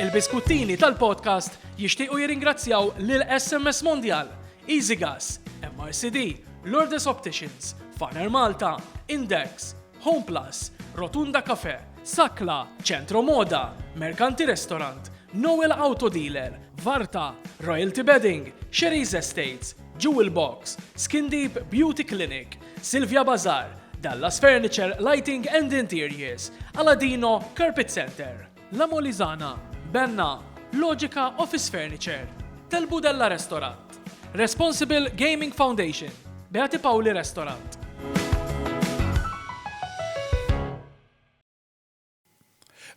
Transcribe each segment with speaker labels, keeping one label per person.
Speaker 1: Il-biskuttini tal-podcast jixtiequ jirringrazzjaw lil SMS Mondial, EasyGas, MRCD, Lourdes Opticians, Faner Malta, Index, Home Plus, Rotunda Cafe, Sakla, Centro Moda, Mercanti Restaurant, Noel Auto Dealer, Varta, Royalty Bedding, Sherry's Estates, Jewel Box, Skin Deep Beauty Clinic, Silvia Bazar, Dallas Furniture, Lighting and Interiors, Aladino, Carpet Center, La Molizana, Benna, Logica Office Furniture, Tel Budella Restaurant, Responsible Gaming Foundation, Beati Pauli Restaurant.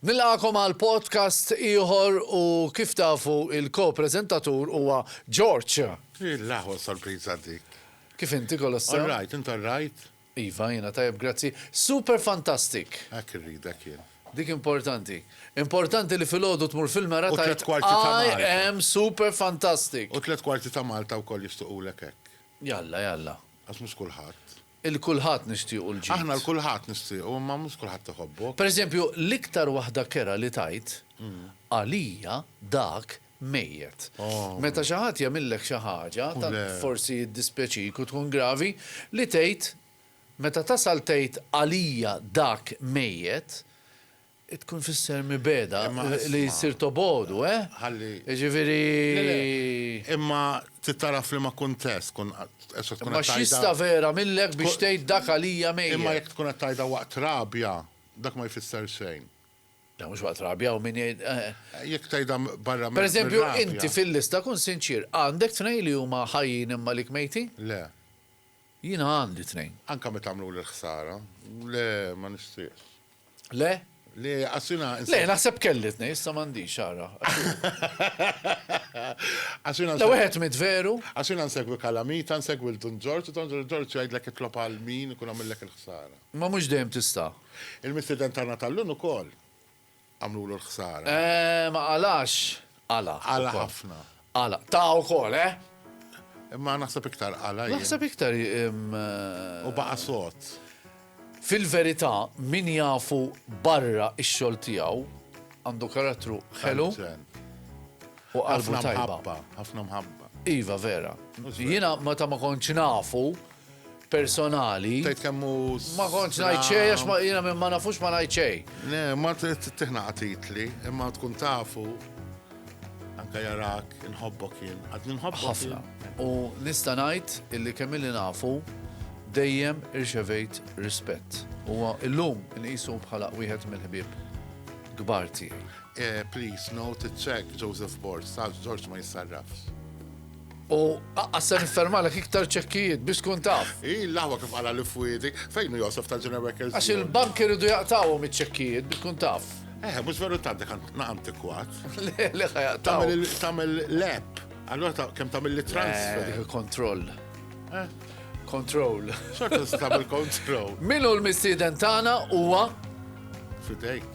Speaker 2: Nilqagħkom għal podcast ieħor u kif tafu il-ko-preżentatur huwa George. Il-laħwa
Speaker 3: sorpriża dik. Kif inti kollox
Speaker 2: sew? All right, int all right?
Speaker 3: Iva, jiena tajjeb
Speaker 2: grazzi. Super fantastic! Hekk irridek jien.
Speaker 3: Dik importanti.
Speaker 2: Importanti li filgħodu tmur fil-mera U tliet kwarti ta' I Malta. am
Speaker 3: super
Speaker 2: fantastic. U tliet kwarti ta'
Speaker 3: Malta wkoll jixtuqulek hekk. Jalla, jalla.
Speaker 2: Għax mhux kulħadd.
Speaker 3: Il kulħadd
Speaker 2: nixtiequ l-ġid. Aħna l kulħadd nixtiequ
Speaker 3: imma mhux kulħadd iħobbok. Per eżempju, l-iktar
Speaker 2: waħda kerha li tgħid, għalija dak mejjet. Meta xi ħadd jagħmillek xi ħaġa, tant forsi
Speaker 3: jiddispjaċik
Speaker 2: u tkun gravi, li tgħid, meta tasal tgħid għalija dak mejjet, Tkun tfisser mibegħda, li ssir
Speaker 3: tobogħdu,
Speaker 2: eh? Ħalli.
Speaker 3: Jiġifieri. Le, le.
Speaker 2: Imma
Speaker 3: trid tara f'liema kuntest tkun qed tkun qed tgħidha. Imma x'jista'
Speaker 2: vera minlek biex tgħid dak għalija mejjet? Imma jekk tkun qed
Speaker 3: tgħidha
Speaker 2: waqt
Speaker 3: rabja, dak ma jfisser xejn. Le mhux waqt
Speaker 2: rabja, hawn min jgħid, eh. Jekk tgħidha
Speaker 3: barra mir-rabja. Pereżempju, inti
Speaker 2: fil-lista kun sinċier, għandek tnejn li huma ħajjin imma għalik mejtin? Le.
Speaker 3: Jiena
Speaker 2: għandi tnejn. Anke meta għamluli
Speaker 3: l-ħsara? Le, ma nixtieqx. Le?
Speaker 2: Le, għax
Speaker 3: jiena. Le, naħseb kelli
Speaker 2: tnejn, issa m'għandix, ara.
Speaker 3: Għax jiena. Le, wieħed miet veru.
Speaker 2: Għax jiena nsegwi
Speaker 3: Calamita, nsegwi lil Dun Ġorġ, u Dun Ġorġ jgħidlek itlob għal min ikun għamillek il-ħsara. Imma mhux dejjem tista'.
Speaker 2: Il-mistieden tagħna
Speaker 3: tal-lum ukoll. għamlulu l-ħsara. Eh, ma qalax.
Speaker 2: Qala. Qala ħafna.
Speaker 3: Qala.
Speaker 2: Ta' ukoll, eh? Imma
Speaker 3: naħseb iktar qala. Naħseb iktar.
Speaker 2: Eh,
Speaker 3: u baqa' sot. Fil-verità,
Speaker 2: min jafu barra ix-xogħol tiegħu għandu karattru ħelu. U ħafna mħabba, ħafna mħabba.
Speaker 3: Iva, vera.
Speaker 2: Jina, meta ma konċ nafu. personali. Tgħid kemm hu.
Speaker 3: Ma kontx ngħid
Speaker 2: xejn għax ma jiena minn ma nafux ma ngħid xejn. Le, ma
Speaker 3: tiħna titli, imma tkun tafu anke jarak, inħobbok jien. Għad ninħobbok. Ħafna. U
Speaker 2: nista' ngħid illi kemm illi nafu dejjem irċevejt rispett. Huwa illum inqisu bħala wieħed mill-ħbieb kbar tiegħi. Eh, please, no,
Speaker 3: tiċċek Joseph Borg, sa George ma jissarrafx. U
Speaker 2: aqqas se niffermalek iktar ċekkijiet biex tkun taf. Hi l-aħwa kif qala li
Speaker 3: fwiedi. Fejn hu Josef tal-Ġenja Records? Għax il-bank iridu
Speaker 2: jaqtgħuhom iċ-ċekkijiet biex tkun taf. Eh, mhux veru tant dak
Speaker 3: antikwat. Le, le
Speaker 2: ħa jaqtgħu. Tagħmel l-app.
Speaker 3: Allura kemm tagħmel li transfer. Eh, kontroll. Eh?
Speaker 2: Kontroll. Xorta
Speaker 3: tagħmel kontroll. Minu l-mistieden
Speaker 2: tagħna huwa? Fidejk.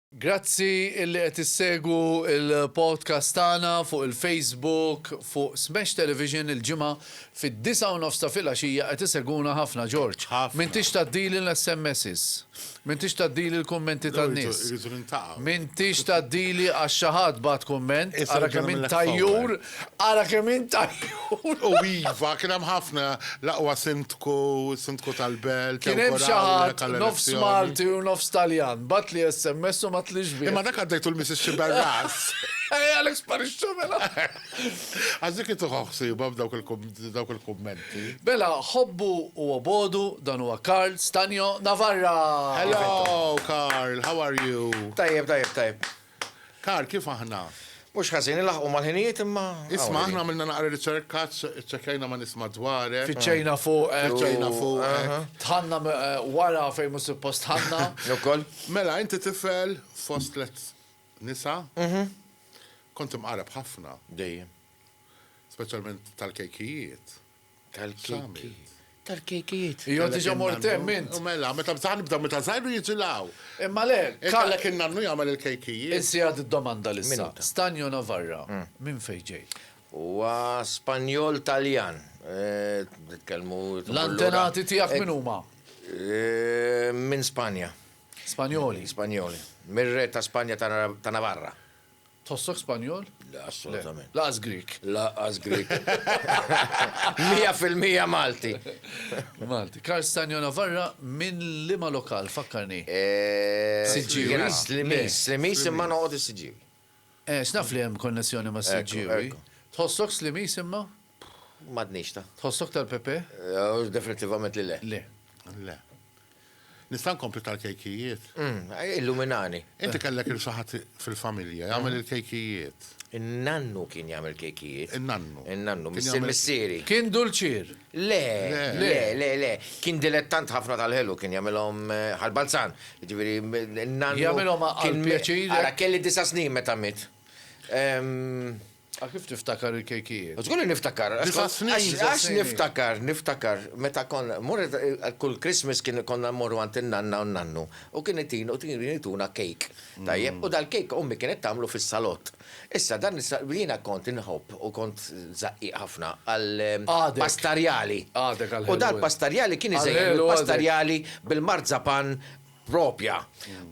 Speaker 2: Grazzi illi qed issegwu l-podcast tagħna fuq il-Facebook fuq Smash Television il-Ġimgħa fid-disgħa u nofs ta' filgħaxija qed isegwuna ħafna Ġorġ. Ħafna. M'intix tgħaddili l-SMSs. M'intix tgħaddili l-kummenti tan-nies. Irridu niltaqgħu.
Speaker 3: M'intix tgħaddili
Speaker 2: għax xi ħadd bagħat kumment, ara kemm int
Speaker 3: tajjur Ara
Speaker 2: kemm int għajjun! U iva,
Speaker 3: kien hemm ħafna, l-aqwa Sindku,
Speaker 2: is-Sindku tal-Belt, Kien
Speaker 3: hemm
Speaker 2: xi ħadd, nofs Malti u nofs Taljan, bagħatli SMS u ma tliex bih. Imma dak għaddejtu l-Missis
Speaker 3: Sciberras. Ej Alex
Speaker 2: Parisciu mela! Għax
Speaker 3: dik hi tieħu ħsiebha b'dawk il-kummenti. Mela,
Speaker 2: ħobbu u obodu, dan huwa Karl Stagno Navarra! Hello
Speaker 3: Karl, how are you? Tajjeb, tajjeb, tajjeb.
Speaker 4: Karl,
Speaker 3: kif aħna? Mhux ħażin, ilaħħqu
Speaker 4: mal-ħinijiet imma. Isma' aħna għamilna
Speaker 3: naqra riċerka, ċċekkjajna ma' nies madwarek. Fittxejna fuqek.
Speaker 2: Fittxejna fuqek.
Speaker 3: Tħanna
Speaker 2: wara fejn mhux suppost tħanna. Ukoll. Mela,
Speaker 4: inti
Speaker 3: tifel fost tliet nisa. Kont imqareb ħafna. Dejjem.
Speaker 4: Speċjalment
Speaker 3: tal-kejkijiet. tal-kejki.
Speaker 4: Tal-kejkijiet. Jo diġa mort hemm
Speaker 2: int. U mela, meta bżaħ nibda
Speaker 3: meta żgħiru jiġilaw. Imma le,
Speaker 2: kallek in-nannu
Speaker 3: jagħmel il-kejkijiet. Insi għad id-domanda
Speaker 2: lissa. Stanjo Navarra, minn fejn ġej? Huwa
Speaker 4: Spanjol Taljan. Nitkellmu. L-antenati
Speaker 2: tiegħek min huma?
Speaker 4: Minn Spanja. Spanjoli.
Speaker 2: Spanjoli.
Speaker 4: Mir-re ta' Spanja ta' Navarra. Tħossok
Speaker 2: Spanjol? Le, assolutament.
Speaker 4: Laqas Grik.
Speaker 2: Laqas Grik.
Speaker 4: Mija fil-mija Malti. Malti.
Speaker 2: Karl Stanjo Navarra minn lima lokal, fakkarni. Eh, Siġġiwi. Slimis,
Speaker 4: slimis imma noqgħod is-Siġġiwi. Eh, x'naf
Speaker 2: li hemm konnessjoni ma' Siġġiwi. Tħossok
Speaker 4: slimis
Speaker 2: imma? Madnix
Speaker 4: ta. Tħossok tal-Pepe?
Speaker 2: Eh, definitivament
Speaker 4: li le. Le. Le.
Speaker 3: Nista' nkompli tal-kejkijiet? Umm, illuminani.
Speaker 4: Inti kellek il
Speaker 3: xi ħadd fil-familja jagħmel il-kejkijiet? In-nannu
Speaker 4: kien jagħmel kejkijiet. In-nannu. In-nannu,
Speaker 3: missier
Speaker 4: missieri.
Speaker 3: Kien dulċier?
Speaker 2: Le, le,
Speaker 4: le, le. Kien dilettant ħafna tal-ħelu, kien jagħmilhom bħal balzan. Jiġifieri n-nannu. Jagħmilhom għall-pjaċir.
Speaker 2: Ara, kelli disa' snin
Speaker 4: meta miet. Għal
Speaker 2: kif tiftakar il-kejkijiet? Żgur li niftakar. Disa' snin,
Speaker 4: Għax disa' għax
Speaker 3: snin. niftakar,
Speaker 4: niftakar, meta konna, mur kull Christmas kien konna mmorru għand in-nanna u n-nannu u kien itin u tin ituna kejk. Tajjeb, u dal-kejk ommi kienet tagħmlu fis-salott. Issa dan is-sa, jiena kont inħobb u kont żaqqiq ħafna għal Għadek.
Speaker 2: pastarjali.
Speaker 4: Għadek għall-ħelu. U
Speaker 2: dal-pastarjali kien
Speaker 4: iżejjed Għall-ħelu għadek. mill-pastarjali bil-marzapan proprja.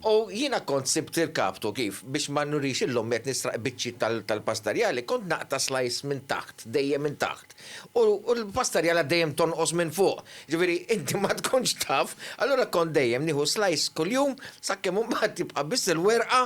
Speaker 4: U jiena kont sibt il-kaptu kif, biex ma nurix illum li qed nisraq biċċiet tal-pastarjali, kont naqta' slice minn taħt, dejjem minn taħt. U l-pastarjala dejjem tonqos minn fuq. Jiġifieri inti ma tkunx taf, allura kont dejjem nieħu slice kuljum sakemm imbagħad jibqa' biss il-werqa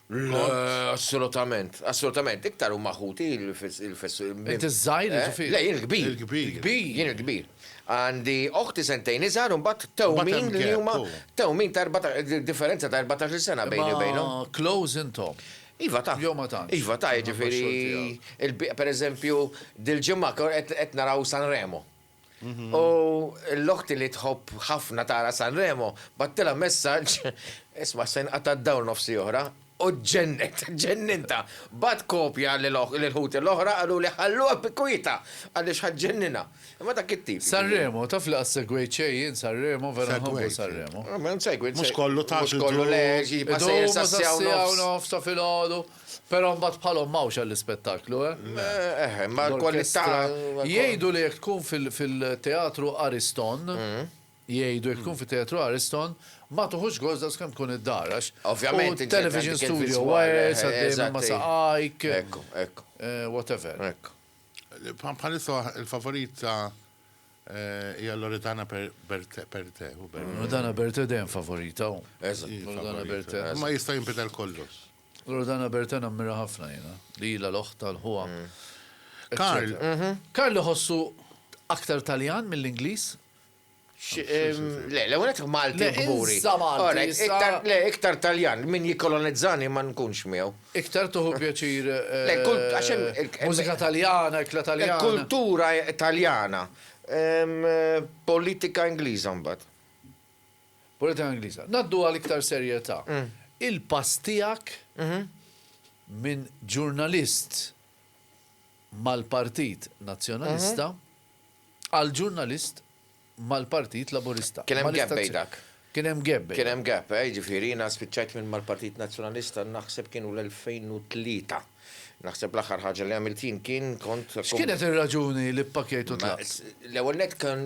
Speaker 3: Assolutament,
Speaker 4: assolutament, iktar huma ħuti il-fessu. Int iż-żgħir
Speaker 2: ġifieri. Le, jien il-kbir. Il-kbir.
Speaker 4: Il-kbir, jien
Speaker 3: il-kbir.
Speaker 4: Għandi oħti sentejn iżgħar u mbagħad tewmin li huma
Speaker 3: tewmin ta'
Speaker 4: differenza ta' 14 sena bejni u bejnhom. Close intom.
Speaker 2: Iva ta'. Jew ma
Speaker 4: tantx. Iva ta', jiġifieri pereżempju dil-ġimgħa qed naraw San Remo. U l-oħti li tħobb ħafna tara Sanremo battilha messaġġ, isma' se jinqata' d-dawl nofsi oħra, u ġġennet, ġġenninta. Bagħat kopja lill-ħuti l-oħra qaluli ħalluha bi kwietha għaliex ħa ġġenninha. Imma dak it-tip. Sanremo, taf li qatt
Speaker 2: segwejt xejn jien Sanremo, vera nħobbu Sanremo. Segwejt,
Speaker 3: segwejt.
Speaker 2: Mhux kollu
Speaker 3: tagħtux. Mhux kollu le, jibqa'
Speaker 4: sejjer sas-siegħa u nofs. Sas-siegħa u nofs ta' filgħodu.
Speaker 2: Però mbagħad bħalhom m'hawnx għall-ispettaklu, eh? Le, eh, imma
Speaker 4: l-kwalità. Jgħidu li
Speaker 2: jekk tkun fil-teatru Ariston, mm. jgħidu jekk tkun mm. fit-teatru Ariston, ma tuħux gost daqs kemm tkun id-dar għax. Ovvjament. Television
Speaker 4: studio,
Speaker 2: wires, għaddejjem
Speaker 4: ma
Speaker 2: saqajk. Ekku, ekku.
Speaker 4: Eh, whatever.
Speaker 2: Ekku.
Speaker 3: Bħalissa il-favorit ta' eh, hija Loredana Berte, Berte. Loredana
Speaker 2: Berte dejjem favorita. Eżatt. Loredana
Speaker 4: Berte.
Speaker 2: Ma jista' jinbidel
Speaker 3: kollox. Loredana Bertè
Speaker 2: nammira ħafna jiena, li ilha l-oħt tal-ħuha. Karl,
Speaker 3: mhm. Karl
Speaker 2: iħossu aktar Taljan mill-Ingliż?
Speaker 4: Le, le, unet Malti kburi.
Speaker 2: Le, iktar Taljan,
Speaker 4: min jikolonizzani ma nkunx miegħu. Iktar tuħu pjaċir.
Speaker 2: Le,
Speaker 4: eh, Mużika Taljana,
Speaker 2: ikla Taljana. Kultura
Speaker 4: Taljana. Politika Ingliża mbagħad.
Speaker 2: Politika Ingliża. Ngħaddu għal iktar serjetà. Il-pass tiegħek minn ġurnalist mal-Partit Nazzjonalista għal ġurnalist mal-Partit Laburista. Kien hemm gap bejn dak.
Speaker 4: Kien hemm
Speaker 2: gap
Speaker 4: bejn. Kien
Speaker 2: hemm gap, jiġifieri
Speaker 4: jiena spiċċajt minn mal-Partit Nazzjonalista naħseb kienu l-2003. Naħseb l-aħħar ħaġa li għamilt jien kien kont. X'kienet ir-raġuni
Speaker 2: li ppakkejt u tlaqt? L-ewwel nett kan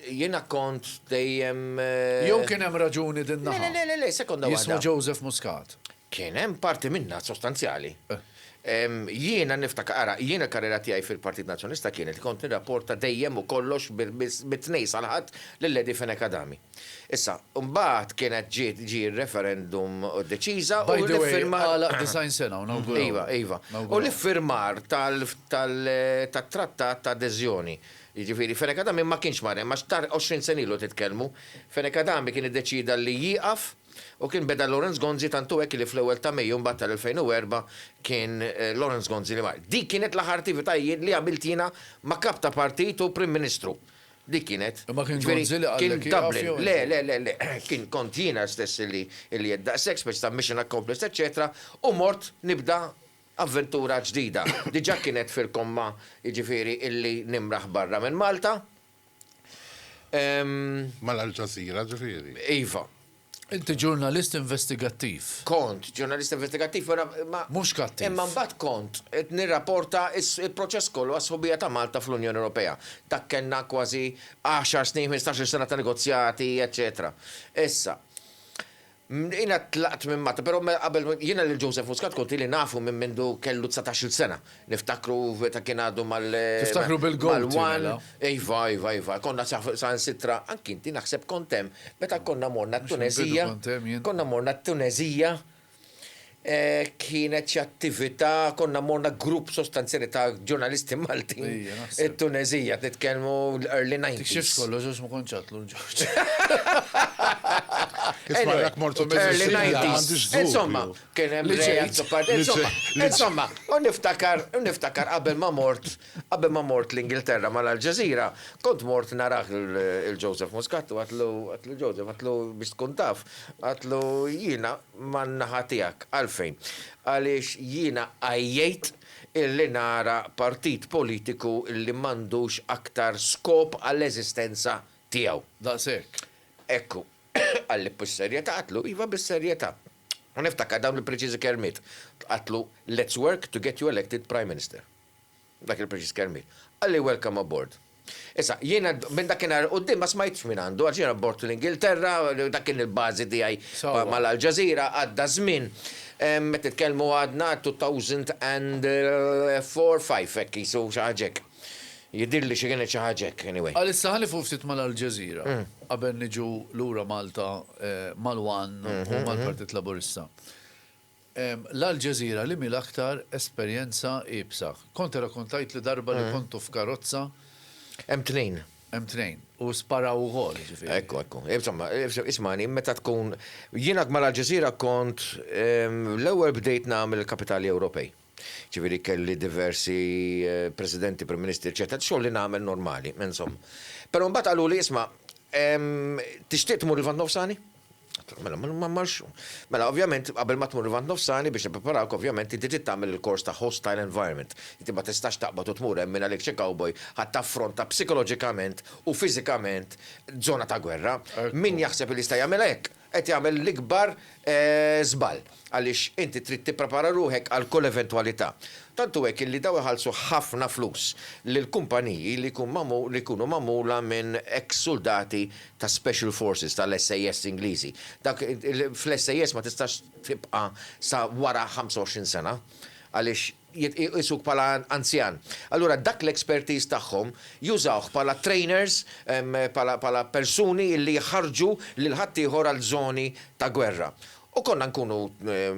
Speaker 4: jiena kont dejjem. Eh, Jew kien
Speaker 2: hemm raġuni din naħa. Le, le, le, sekonda waħda. Jismu
Speaker 4: Joseph Muscat.
Speaker 2: Kien hemm parti
Speaker 4: minna sostanzjali. Eh. Jiena niftaka, ara, jiena karriera tiegħi fil-Partit Nazzjonista kienet kont nirrapporta dejjem u kollox bit-tnej salħat lill-Lady Feneka Dami. Issa, mbagħad kienet ġiet ġie r-referendum u ddeċiża u l-iffirmar.
Speaker 2: By the way, għalaq 90
Speaker 4: sena u
Speaker 2: nawguraw. Iva, iva. U
Speaker 4: l-iffirmar tat-trattat ta' adeżjoni. Jiġifieri Fenech Adami ma kienx mar hemm għax tar 20 sena ilu titkellmu. Fenech Adami kien iddeċieda li jieqaf u kien beda Lawrence Gonzi tant hu hekk li fl-ewwel ta' Mejju mbagħad tal-2004 kien Lawrence Gonzi li mar. Dik kienet l-aħħar attivitajiet li għamilt jiena ma' kap ta' partit u Prim Ministru. Dik kienet. Imma kien Gonzi li qallek ieqaf jew inti? Kien
Speaker 2: Dublin. Le, le, le, le. Kien kont
Speaker 4: jiena stess illi għedt daqshekk, speċi ta' mission accomplished eċċetera, u mort nibda avventura ġdida. Diġà kienet fil-komma jiġifieri illi nimraħ barra minn Malta.
Speaker 3: Mal-Alġażira ġifieri? Iva.
Speaker 4: Inti
Speaker 2: ġurnalist investigattiv. Kont ġurnalist
Speaker 4: investigattiv, però imma. Mhux kattiv. Imma mbagħad
Speaker 2: kont
Speaker 4: qed nirrapporta s-proċess kollu għas-sħubija ta' Malta fl-Unjoni Ewropea. Dak kellna kważi għaxar snin, ħmistax-il sena ta' negozjati, eċċetera. Issa, jiena tlaqt minn Malta, però qabel, jiena lil Joseph Muscat kont ili nafu minn mindu kellu dsatax-il sena. Niftakru meta kien għadu mal. Tiftakru bil-goat
Speaker 2: mela. Iva,
Speaker 4: iva, iva. Konna saħansitra, anki inti naħseb kont hemm, meta konna morna t-Tuneżija. Konna morna t-Tuneżija, kienet xi attività, konna morna grupp sostanzjali ta' ġurnalisti Maltin it-Tuneżija, nitkellmu l-early nineties. Tikxifx kollox għax ma kontx
Speaker 2: għadtlu l-Ġorġ.
Speaker 3: Insomma,
Speaker 4: Kien hemm Li Ray żgħid- Azzopardi. li Insomma, żgħid- li- insomma, u niftakar, u niftakar qabel ma mort, qabel ma mort l-Ingilterra mal-Al Jazeera, kont mort narah lil il Joseph Muscat u għedtlu, għedtlu Joseph, għedtlu biex tkun taf, għedtlu jiena man-naħa tiegħek. Għalfejn? Għaliex jiena għajjejt illi nara partit politiku illi m'għandux aktar skop għall-eżistenza tiegħu. Daqshekk.
Speaker 2: Ekku.
Speaker 4: Qalli, Bis-serjetà? Għedtlu, iva bis-serjetà. U niftakar dawn il-preċiżi kelmiet, tqattlu let's work to get you elected Prime Minister. Dak il-preċiż kelmiet. Qalli welcome aboard. Issa, jiena minn dakinhar 'il quddiem ma smajtx minn għandu għax jiena bort l-Ingilterra, dak kien il-bażi tiegħi ma' l-Al Jazeera, għadda żmien. Qed nitkellmu għadna 2004, 5 hekk qisu, xi ħaġa hekk. Jidhirli xi kienet xi ħaġa hekk, anyway. Għalissa ħa nieqfu ftit
Speaker 2: mal-Aljazeera qabel niġu lura Malta mal-one u mal-Partit Laburista. L-Aljazeera liemhi l-aktar esperjenza iebsa? Kont irrakontajtli darba li kontu f'karozza. Hemm
Speaker 4: tnejn. Hemm tnejn. U
Speaker 2: sparaw ukoll, ġifieri. Ekku, ekku. Insomma,
Speaker 4: ismagħni, meta tkun, jien għad mal-Aljazeera kont, l-ewwel bdejt nagħmel il-Kapitali Ewropej. Ġifieri kelli diversi Presidenti, Prim Ministri, eċċetera, xogħol li nagħmel normali, insomma. Però mbagħad qaluli isma' tixtieq tmur il-Lvant Nofsani? Mela, ma marx. Mela, ovvjament, qabel ma tmur il-vant nofsani biex nippreparawk, ovvjament, inti trid tagħmel il-kors ta' hostile environment. Inti ma tistax taqbad u tmur hemm mingħajr xi cowboy ħadd taffronta psikoloġikament u fiżikament żona ta' gwerra. Min jaħseb li jista' jagħmilha hekk? qed jagħmel l-ikbar żball għaliex inti trid tipprepara ruħek għal kull eventwalità. Tant hu hekk illi dawn iħallsu ħafna flus lil kumpaniji li jkun magħmul li jkunu magħmula minn eks suldati ta' Special Forces tal-SAS Ingliżi. Dak fl-SAS ma tistax tibqa' sa wara 25 sena għaliex jitqiesuk bħala anzjan. Allura dak l-expertise tagħhom jużawh bħala trainers, bħala persuni illi jħarrġu lil ħaddieħor għal żoni ta' gwerra. U konna nkunu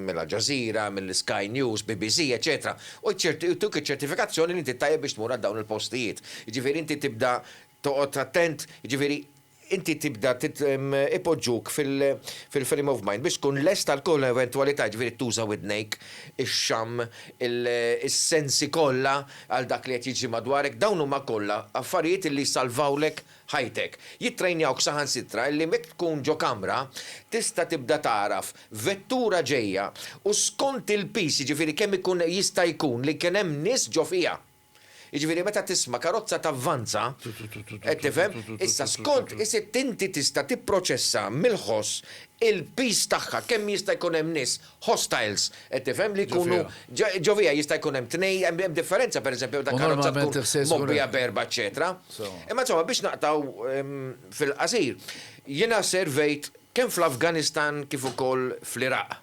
Speaker 4: mill Al Jazeera, mill Sky News, BBC, eċċetera, u jtuk iċ-ċertifikazzjoni li inti tajjeb biex tmur għal dawn il-postijiet. Jiġifieri inti tibda toqgħod attent, jiġifieri inti tibda ipoġġuk fil-frame of mind biex tkun lest għal kull eventwalità, jiġifieri tuża widnejk, ix-xamm, is-sensi kollha għal dak li qed jiġri madwarek, dawn huma kollha affarijiet illi jsalvawlek ħajtek. Jittrejnjawk saħansitra illi jekk tkun ġo kamra tista' tibda tagħraf vettura ġejja u skont il-piż, jiġifieri kemm ikun jista' jkun li kien hemm nies ġo fiha. Jiġifieri meta tisma' karozza tavvanza, qed tifhem, issa skont is-sitt inti tista' tipproċessa mill-ħoss il-piż tagħha, kemm jista' jkun hemm nies hostiles, qed tifhem, li jkunu ġo fiha, jista' jkun hemm tnej, hemm differenza pereżempju meta karozza tkun mgħobbija
Speaker 2: b'erba'
Speaker 4: eċċetera. Imma insomma biex naqtgħu fil-qasir, jiena servejt kemm fl-Afganistan kif ukoll fl-Iraq.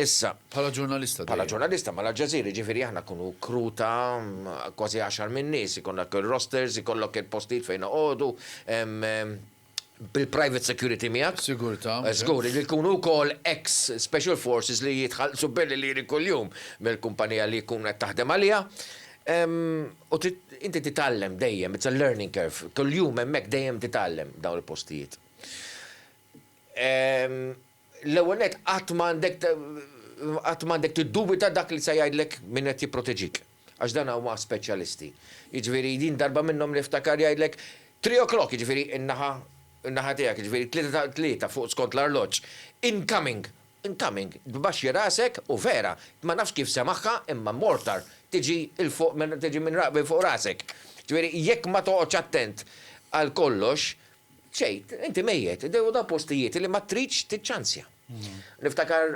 Speaker 4: Issa. Bħala ġurnalista dejjem.
Speaker 2: Bħala ġurnalista ma'
Speaker 4: l-Aljazeera jiġifieri aħna nkunu crew ta' kważi għaxar minn nies, ikollok ir-rosters, ikollok il-postijiet fejn noqogħdu, bil-private security miegħek. Sigurtà. Żgur,
Speaker 2: li jkunu
Speaker 4: wkoll ex special forces li jitħallsu belli liri kuljum mill-kumpanija li jkun qed taħdem għaliha. U trid, inti titgħallem dejjem, it's a learning curve. Kuljum hemmhekk dejjem titgħallem dawn il-postijiet. L-ewwel nett, qatt ma għandek qatt ma għandek tiddubita dak li se jgħidlek min qed jipproteġik, għax dan huma speċjalisti. Jiġifieri din darba minnhom niftakar jgħidlek, Three o'clock, jiġifieri in-naħa in-naħa tiegħek, jiġifieri tlieta ta' tlieta fuq skont l-arloġġ, incoming! Incoming! Tbaxxi rasek u vera, ma nafx kif semaħha imma mortar tiġi 'l fuq minn tiġi minn fuq rasek. Jiġifieri jekk ma toqgħodx attent għal kollox, Tgħid, inti mejjet, u dawn postijiet li ma tridx tiċċanzja. Niftakar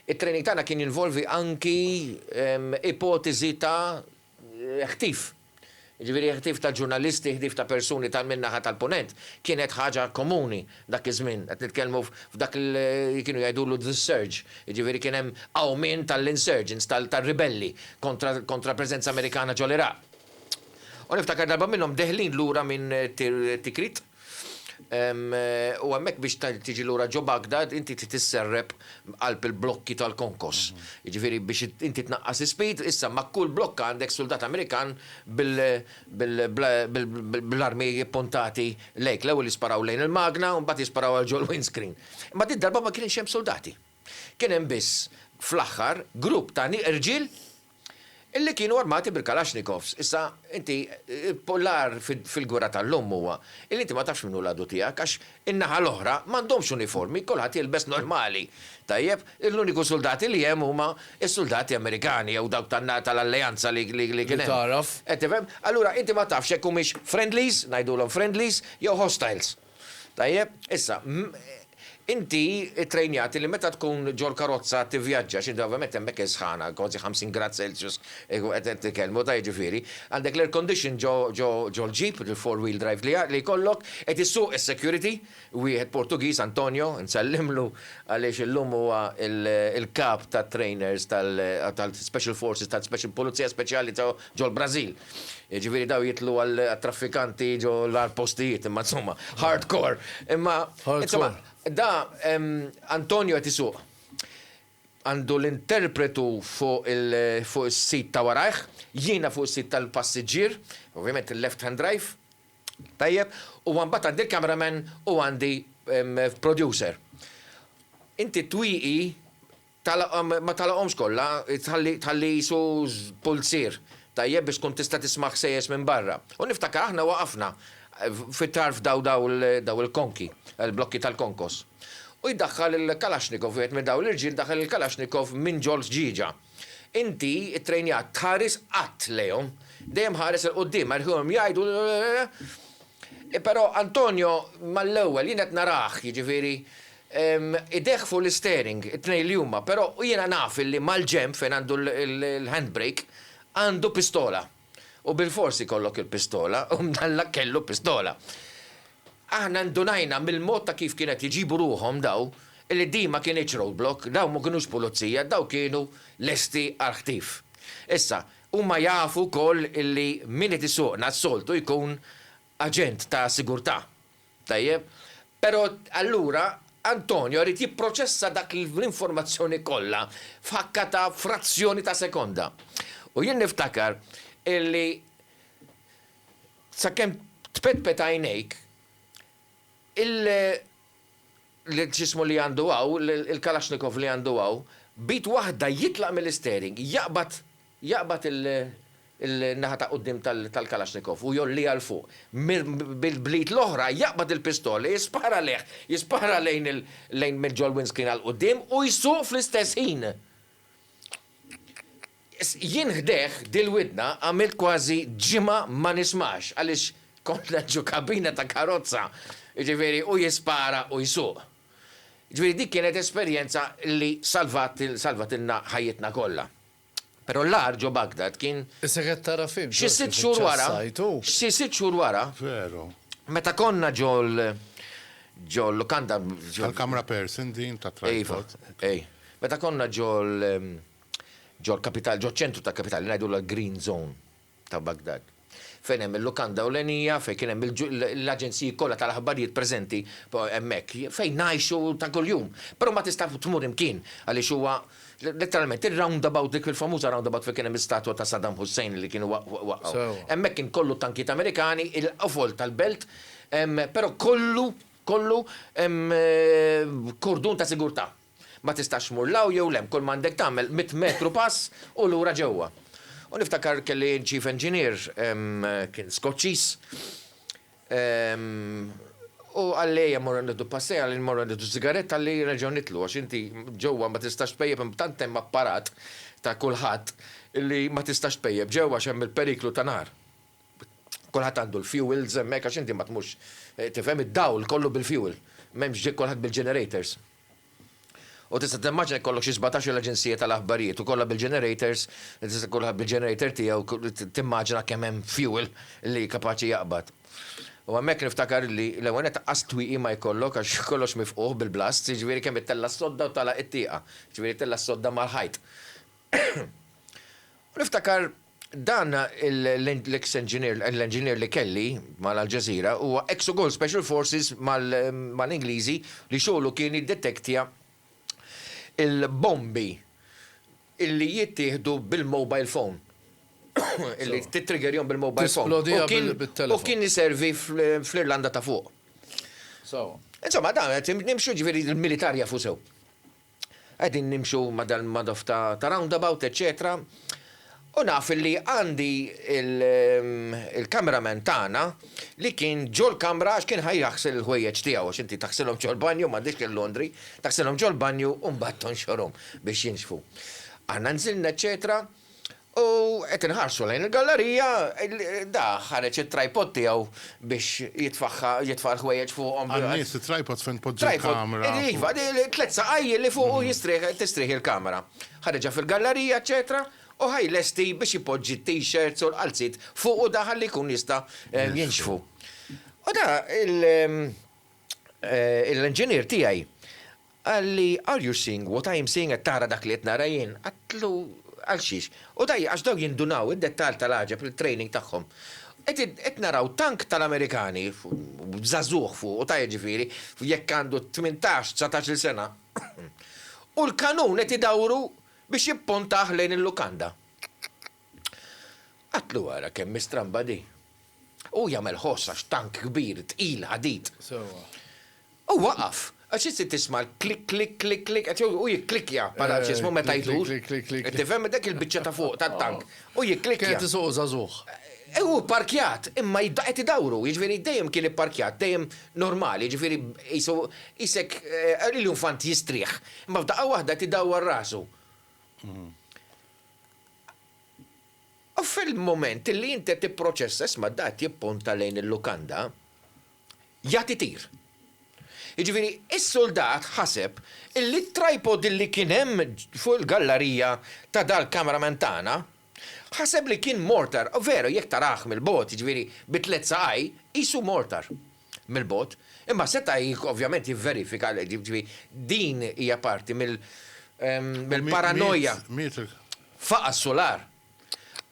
Speaker 4: it-training tagħna kien jinvolvi anki ipoteżi ta' ħtif. Jiġifieri ħtif ta' ġurnalisti, ħtif ta' persuni ta' min-naħa tal-Punent, kienet ħaġa komuni dak iż-żmien. Qed nitkellmu f'dak li kienu jgħidulu the surge, jiġifieri kien hemm qawmien tal-insurgents, tar-ribelli kontra l-preżenza Amerikana ġol-Iraq. U niftakar darba minnhom deħlin lura minn Tikrit, u hemmhekk biex tiġi lura ġo Baghdad inti trid isserrep qalb il-blokki tal-konkos. Jiġifieri biex inti tnaqqas is-speed, issa ma' kull blokka għandek suldat Amerikan bl-armi ppuntati lejk. L-ewwel jisparaw lejn il-magna u mbagħad jisparaw għal ġol-windscreen. Imma din id-darba ma kienx hemm suldati. Kien hemm biss, fl-aħħar, grupp ta' irġiel, Illi kienu armati bil-Kalashnikovs. Issa, inti, l-għar fil-gwerra tal-lum huwa illi inti ma tafx min hu l-għadu tiegħek għax in-naħa l-oħra m'għandhomx uniformi, kulħadd jilbes normali. Tajjeb? L-uniku suldati li hemm huma s-suldati Amerikani jew dawk tal-alleanza li kien hemm. Li tagħraf. Qed tifhem?
Speaker 2: Allura inti ma
Speaker 4: tafx jekk humiex friendlies, ngħidulhom friendlies, jew hostiles. Tajjeb, issa, inti ttrejnjat li meta tkun ġol-karozza tivvjaġġa, xi drabi ovvjament hemmhekk is-sħana, kważi 50 grad Celsius, qed nitkellmu, ta' jiġifieri, għandek l-air condition ġol-ġip, il-four wheel drive li jkollok, qed issuq is-security, wieħed Portugiż, Antonio, nsellimlu għaliex illum huwa l-kap tat-trainers tal-special forces tal-Pulizija Speċjali ta' ġol-Brażil. Jiġifieri dawn jidħlu għat-traffikanti ġo l-agħar postijiet, imma insomma, hard core. Imma, insomma, da Antonio qed isuq. Għandu l-interpretu fuq is-sit ta' warajh, jiena fuq is-sit tal-passiġġier, ovvjament il-left hand drive, tajjeb, u mbagħad għandi l-cameraman u għandi producer. Inti twieqi Tagħlaqhom, ma tagħlaqhomx kollha, tħalli, tħalli qisu pulzier tajjeb biex tkun tista' tisma' ħsejjes minn barra. U niftakar aħna waqafna fi tarf daw, daw, daw il-konki, il-blokki tal-konkos. U jdaħħal il-Kalashnikov, wieħed minn daw l-irġiel daħal il-Kalashnikov minn ġol-ħġieġa. Inti ttrejnjat tħares qatt lejhom. Dejjem ħares 'il quddiem, erħihom jgħidu, Però Antonio mall-ewwel jien qed narah, jiġifieri, idejh fuq l-isteering, it-tnejn li huma, però jiena naf illi mal-ġenb fejn għandu l-handbrake għandu pistola. U bilfors ikollok il-pistola u mdallak kellu pistola. Aħna ndunajna mill-mod ta' kif kienet jġibu ruħhom daw illi din ma kinitx roadblock, daw ma kinux pulizija, daw kienu lesti għall-ħtif. Issa, Huma jafu wkoll illi min qed isuqna s-soltu jkun aġent ta' sigurtà. Tajjeb? Però allura Antonio irid jipproċessa dak l-informazzjoni kollha f'ħakka ta' frazzjoni ta' sekonda. U jien niftakar illi sakemm tpetpet għajnejk il-x'jismu li għandu hawn, il-Kalashnikov li għandu hawn, b'id waħda jitlaq mill-isteering, jaqbad jaqbad in-naħa ta' quddiem tal-Kalashnikov u jgħolliha 'l fuq, bl-id l-oħra jaqbad il-pistola, jispara għalih, jispara lejn lejn mill-ġol-windscreen għall-quddiem u jsuq fl-istess ħin. Jien ħdejh dil-widna għamilt kważi ġimgħa ma nismax għaliex konna ġo kabina ta' karozza, jiġifieri hu jispara u jsuq. Jiġifieri dik kienet esperjenza li salvat salvatilna ħajjitna kollha. Però l-agħar ġo Baghdad kien Issa qed tara film
Speaker 2: xi sitt xhur wara,
Speaker 4: xi sitt xhur wara,
Speaker 3: meta konna
Speaker 4: ġo ġo l-lukanda Tal-kamra person
Speaker 3: din tat-tripod. Iva, ej. Meta
Speaker 4: konna ġo l. Ġol-kapital, ġoċ-ċentru tal-kapital, li ngħidulha l-Green Zone ta' Baghdad, fejn hemm il-lukanda ewlenija, fejn kien hemm l-aġenziji kollha tal-aħbarijiet preżenti hemmhekk, fejn ngħixu ta' kuljum. Però ma tista' tmur imkien għaliex huwa letteralment ir-roundabout, dik il-famuża roundabout fejn kien hemm l-istatwa ta' Saddam Hussein li kienu waqqgħu. Hemmhekk kien kollu tankijiet Amerikani, il-qofol tal-belt, però kollu, kollu kordun ta' sigurtà. Ma tistax tmur 'l hawn jew 'l hemm, kull m'għandek tagħmel mitt metru pass u lura ġewwa. U niftakar kelli chief engineer, kien Skoċċiż, u qalli ejja mmorru nieħdu passejja, qalli mmorru nieħdu sigaretta, qalli nerġgħu nitlu għax inti ġewwa ma tistax tpejjep hemm tant hemm apparat ta' kulħadd li ma tistax tpejjep ġewwa għax hemm il-periklu ta' nar. Kulħadd għandu l-fuels hemmhekk għax inti ma tmurx, tifhem, id-dawl kollu bil-fuel. M'hemmx kulħadd bil-generators. U tista' timmaġina jekk ikollok xi sbatax-il aġenzija tal-aħbarijiet u kollha bil-ġenerators, tista' kulħadd bil-ġenerator tiegħu timmaġina kemm hemm fuel li kapaċi jaqbad. U hemmhekk niftakar li l-ewwel nett anqas twieqi ma jkollok għax kollox mifqugħ bil-blasts, jiġifieri kemm ittella' s-sodda u tagħlaq it-tieqa, jiġifieri ittella' s-sodda mal-ħajt. U niftakar Dan l-eks enġinier, l-enġinier li kelli ma' Al Jazeera, huwa eks ukoll Special Forces mal-Ingliżi li xogħlu kien jiddetektja l-bombi illi jittieħdu bil-mobile phone, illi tittriggerjahom bil-mobile phone, u kien iservi fl-Irlanda ta' Fuq. Insomma, dan qed nimxu, jiġifieri l-militar jafu sew. Qegħdin nimxu ma' dal-madoff ta' roundabout eċċetera u naf li għandi l-cameraman tagħna li kien ġol-kamra għax kien ħa jaħsel il-ħwejjeġ tiegħu għax inti taħsilhom ġol-banju m'għandix il-laundry, taħsilhom ġol-banju u mbagħad tonxorhom biex jinxfu. Aħna nżilna eċċetera. U qed inħarsu lejn il-gallerija, da ħareġ it-tripod tiegħu biex jitfagħha, jitfa' l-ħwejjeġ fuqhom. Għan-nies, it-tripod fejn
Speaker 3: tpoġġi l-kamera. Tripod, iva, tliet
Speaker 4: saqajji li fuqu jistrieħ, tistrieħ il-kamera. Ħareġha fil-gallerija, eċċetera, u ħa jlesti biex ipoġġi t-t-shirts u l-qalziet fuqu da ħalli jkun jista' jinxfu. U da l-inġinier tiegħi, Qal li, Are you seeing what I am seeing, qed tara dak li qed nara jien? Għidtlu, Għal xiex? U dai, għax dawn jindunaw id-dettall tal-għaġeb li t-training tagħhom. Qegħdin, qed naraw tank tal-Amerikani, b'żagħżugħ fuqu, ta' jiġifieri, jekk għandu tmintax, dsatax-il sena, u l-kanun qed idawru biex jippuntah lejn il-lukanda. Qatlu ara kemm hi stramba di. Hu jagħmel ħoss għax tank kbir, tqil, ħadid. Sewwa. Hu waqaf, għax int se tisma' l-klik klik klik klik qed hu jikklikkja bħala ġismu meta jdur. Klik klik klik klik. Tifhem, dak il-biċċa ta' fuq tat-tank. Hu jikklikkja. Kien qed isuq żagħżugħ.
Speaker 2: Hu pparkjat,
Speaker 4: imma qed idawru, jiġifieri dejjem kien ipparkjat, dejjem normali, jiġifieri qisu qisek l-infant jistrieħ, imma f'daqqa waħda qed idawwar rasu. U fil-mument li inti qed tipproċessa, isma' da qed jippunta lejn il-lukanda, jagħti tir. Jiġifieri s-suldat ħaseb illi t-tripod illi kien hemm fuq il-gallarija ta' dal-cameraman tagħna, ħaseb li kien mortar, veru jekk tarah mill-bogħod, jiġifieri bi tliet saqaj, qisu mortar. mill-bogħod, imma seta' ovvjament jivverifika, ġifieri din hija parti mill-paranoja. Faqa' s-sular.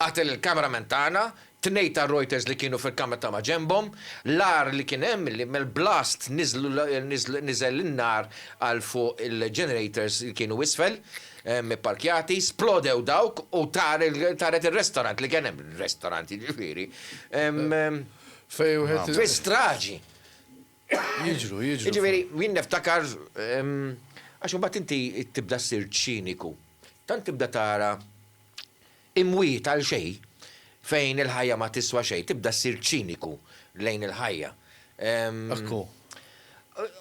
Speaker 4: Qatel il-cameraman tagħna, tnejn tar-Reuters li kienu fil-kamra ta' ma' ġenbhom, l-agħar li kien hemm li mill-blast niżel in-nar għal fuq il-generators li kienu isfel, ipparkjati, splodew dawk u taret ir-restaurant li kien hemm, restaurant jiġifieri. Fejn wieħed. Fi straġi.
Speaker 2: Jiġru, jiġru. Jiġifieri,
Speaker 4: jien niftakar, għax imbagħad inti tibda ssir ċiniku. Tant tibda tara imwiet għal xejn, fejn il-ħajja ma tiswa xejn, tibda ssir ċiniku lejn il-ħajja. Ekku.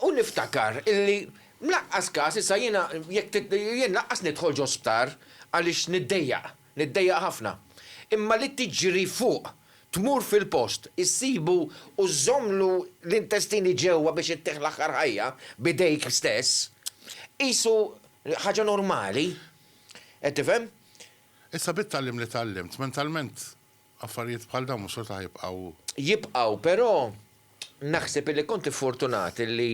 Speaker 4: U niftakar illi mlaqqas każ issa jiena jekk jien laqqas nidħol ġo sptar għaliex niddejjaq. Niddejjaq ħafna. Imma li tiġri fuq, tmur fil-post, issibu u żżommlu l-intestini ġewwa biex ittih l-aħħar ħajja b'idejk stess, qisu ħaġa normali. Qed tifhem? Issa
Speaker 3: bit-tagħlim li tgħallimt, mentalment Affarijiet bħal dawn mhux xorta ħajibqgħu. Jibqgħu,
Speaker 4: però naħseb illi kont iffortunat illi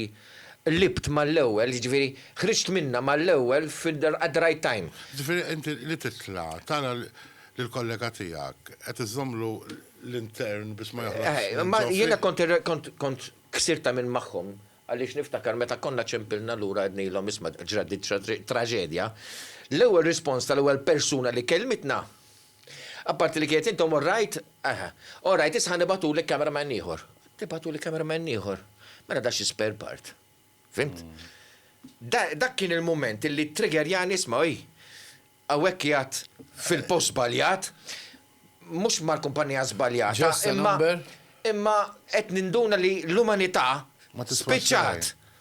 Speaker 4: libt mal-ewwel, jiġifieri ħriġt minnha mal-ewwel fil-at the right time. Jiġifieri inti li
Speaker 3: titla' tara lill-kollega tiegħek qed iżżommlu l-intern biex ma joħroġx minn ġo fik. Jiena kont
Speaker 4: kont ksirt tagħmir magħhom għaliex niftakar meta konna ċempilna lura għednilhom isma' ġrat din traġedja, l-ewwel rispons tal-ewwel persuna li kellmitna Apparti li kienet intom orrajt, eh, orrajt issa ħa nibgħatulek cameraman ieħor. Tibgħatuli cameraman ieħor. Mela da xi spare part. Fimt? Dak kien il-mument li trigger jani isma' oj. Hawnhekk jgħat fil-post żbaljat, mhux mal-kumpanija żbaljata, imma imma qed ninduna li l-umanità spiċċat.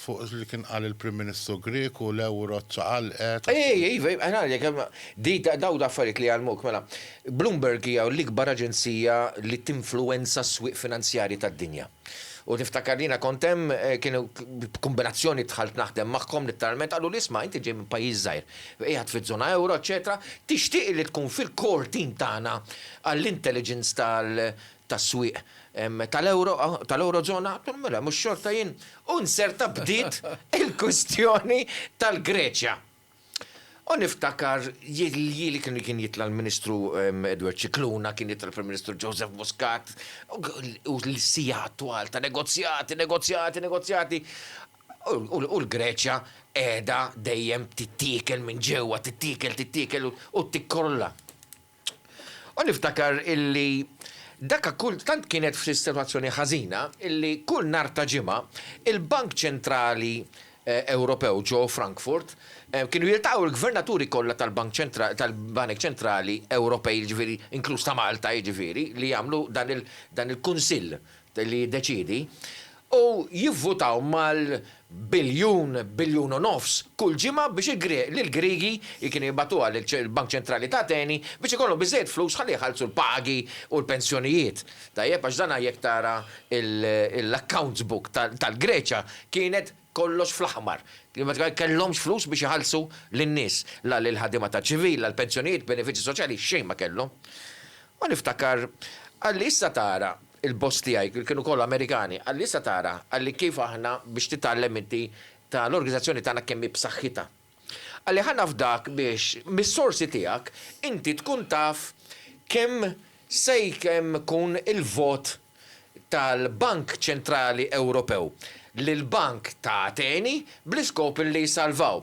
Speaker 3: fuq li kien qal il-Prim Ministru Grieg u l-euro ċċaqalqet. Ej, iva, iva, ngħidlek,
Speaker 4: di dawn l-affarijiet li jgħallmuk, mela, Bloomberg hija l-ikbar aġenzija li tinfluwenza s-swieq finanzjarji tad-dinja. U niftakar li jiena kont hemm, kienu b'kumbinazzjoni dħalt naħdem magħhom litteralment, qaluli, isma', inti ġej minn pajjiż żgħir, qiegħed fiż-żona euro, eċċetera, tixtieq li tkun fil-core team tagħna għall-intelligence tas-swieq tal-euro, tal-eurozona, għidt lhom mela mhux xorta jien u nserta bdiet il-kwistjoni tal-Greċja. U niftakar li kien jitla' l-Ministru Edward Scicluna, kien jitla' l-Prim Ministru Joseph Muscat u sigħat twal ta' negozjati, negozjati, negozjati u l-Greċja qiegħda dejjem tittiekel minn ġewwa, tittiekel, tittiekel u tikkrolla. U niftakar illi daka kull tant kienet f'sitwazzjoni ħażina illi kull nhar ta' Ġimgħa il-Bank Ċentrali Ewropew ġo Frankfurt kienu jiltaqgħu l-Gvernaturi kollha tal-Bank tal-Banek Ċentrali Ewropej jiġifieri inkluż ta' Malta jiġifieri li jagħmlu dan il-Kunsill li jiddeċiedi, u jivvutaw mal biljun, biljun u nofs kull ġimgħa biex il Griegi jkienu jibgħatuha lil Bank Ċentrali ta' Ateni biex ikollhom biżżejjed flus ħalli jħallsu l-pagi u l-pensjonijiet. Tajjeb għax dan jekk tara l-accounts book tal-Greċja kienet kollox fl-aħmar. Ma kellhomx flus biex iħallsu lin-nies, la lill-ħaddiema taċ-ċivil, la l-pensjonijiet, benefiċċji soċjali, xejn ma kellhom. U niftakar, qalli issa tara il-boss tiegħi, li kienu kollha Amerikani, qalli, Issa tara, qalli, kif aħna, biex titgħallem inti, ta' l-organizzazzjoni tagħna kemm hi b'saħħitha. Qalli, Ħa nafdak biex, mis-sorsi tiegħek, inti tkun taf kemm se kemm ikun il-vot tal-Bank Ċentrali Ewropew li l-bank ta' Ateni bl-iskop li jsalvaw.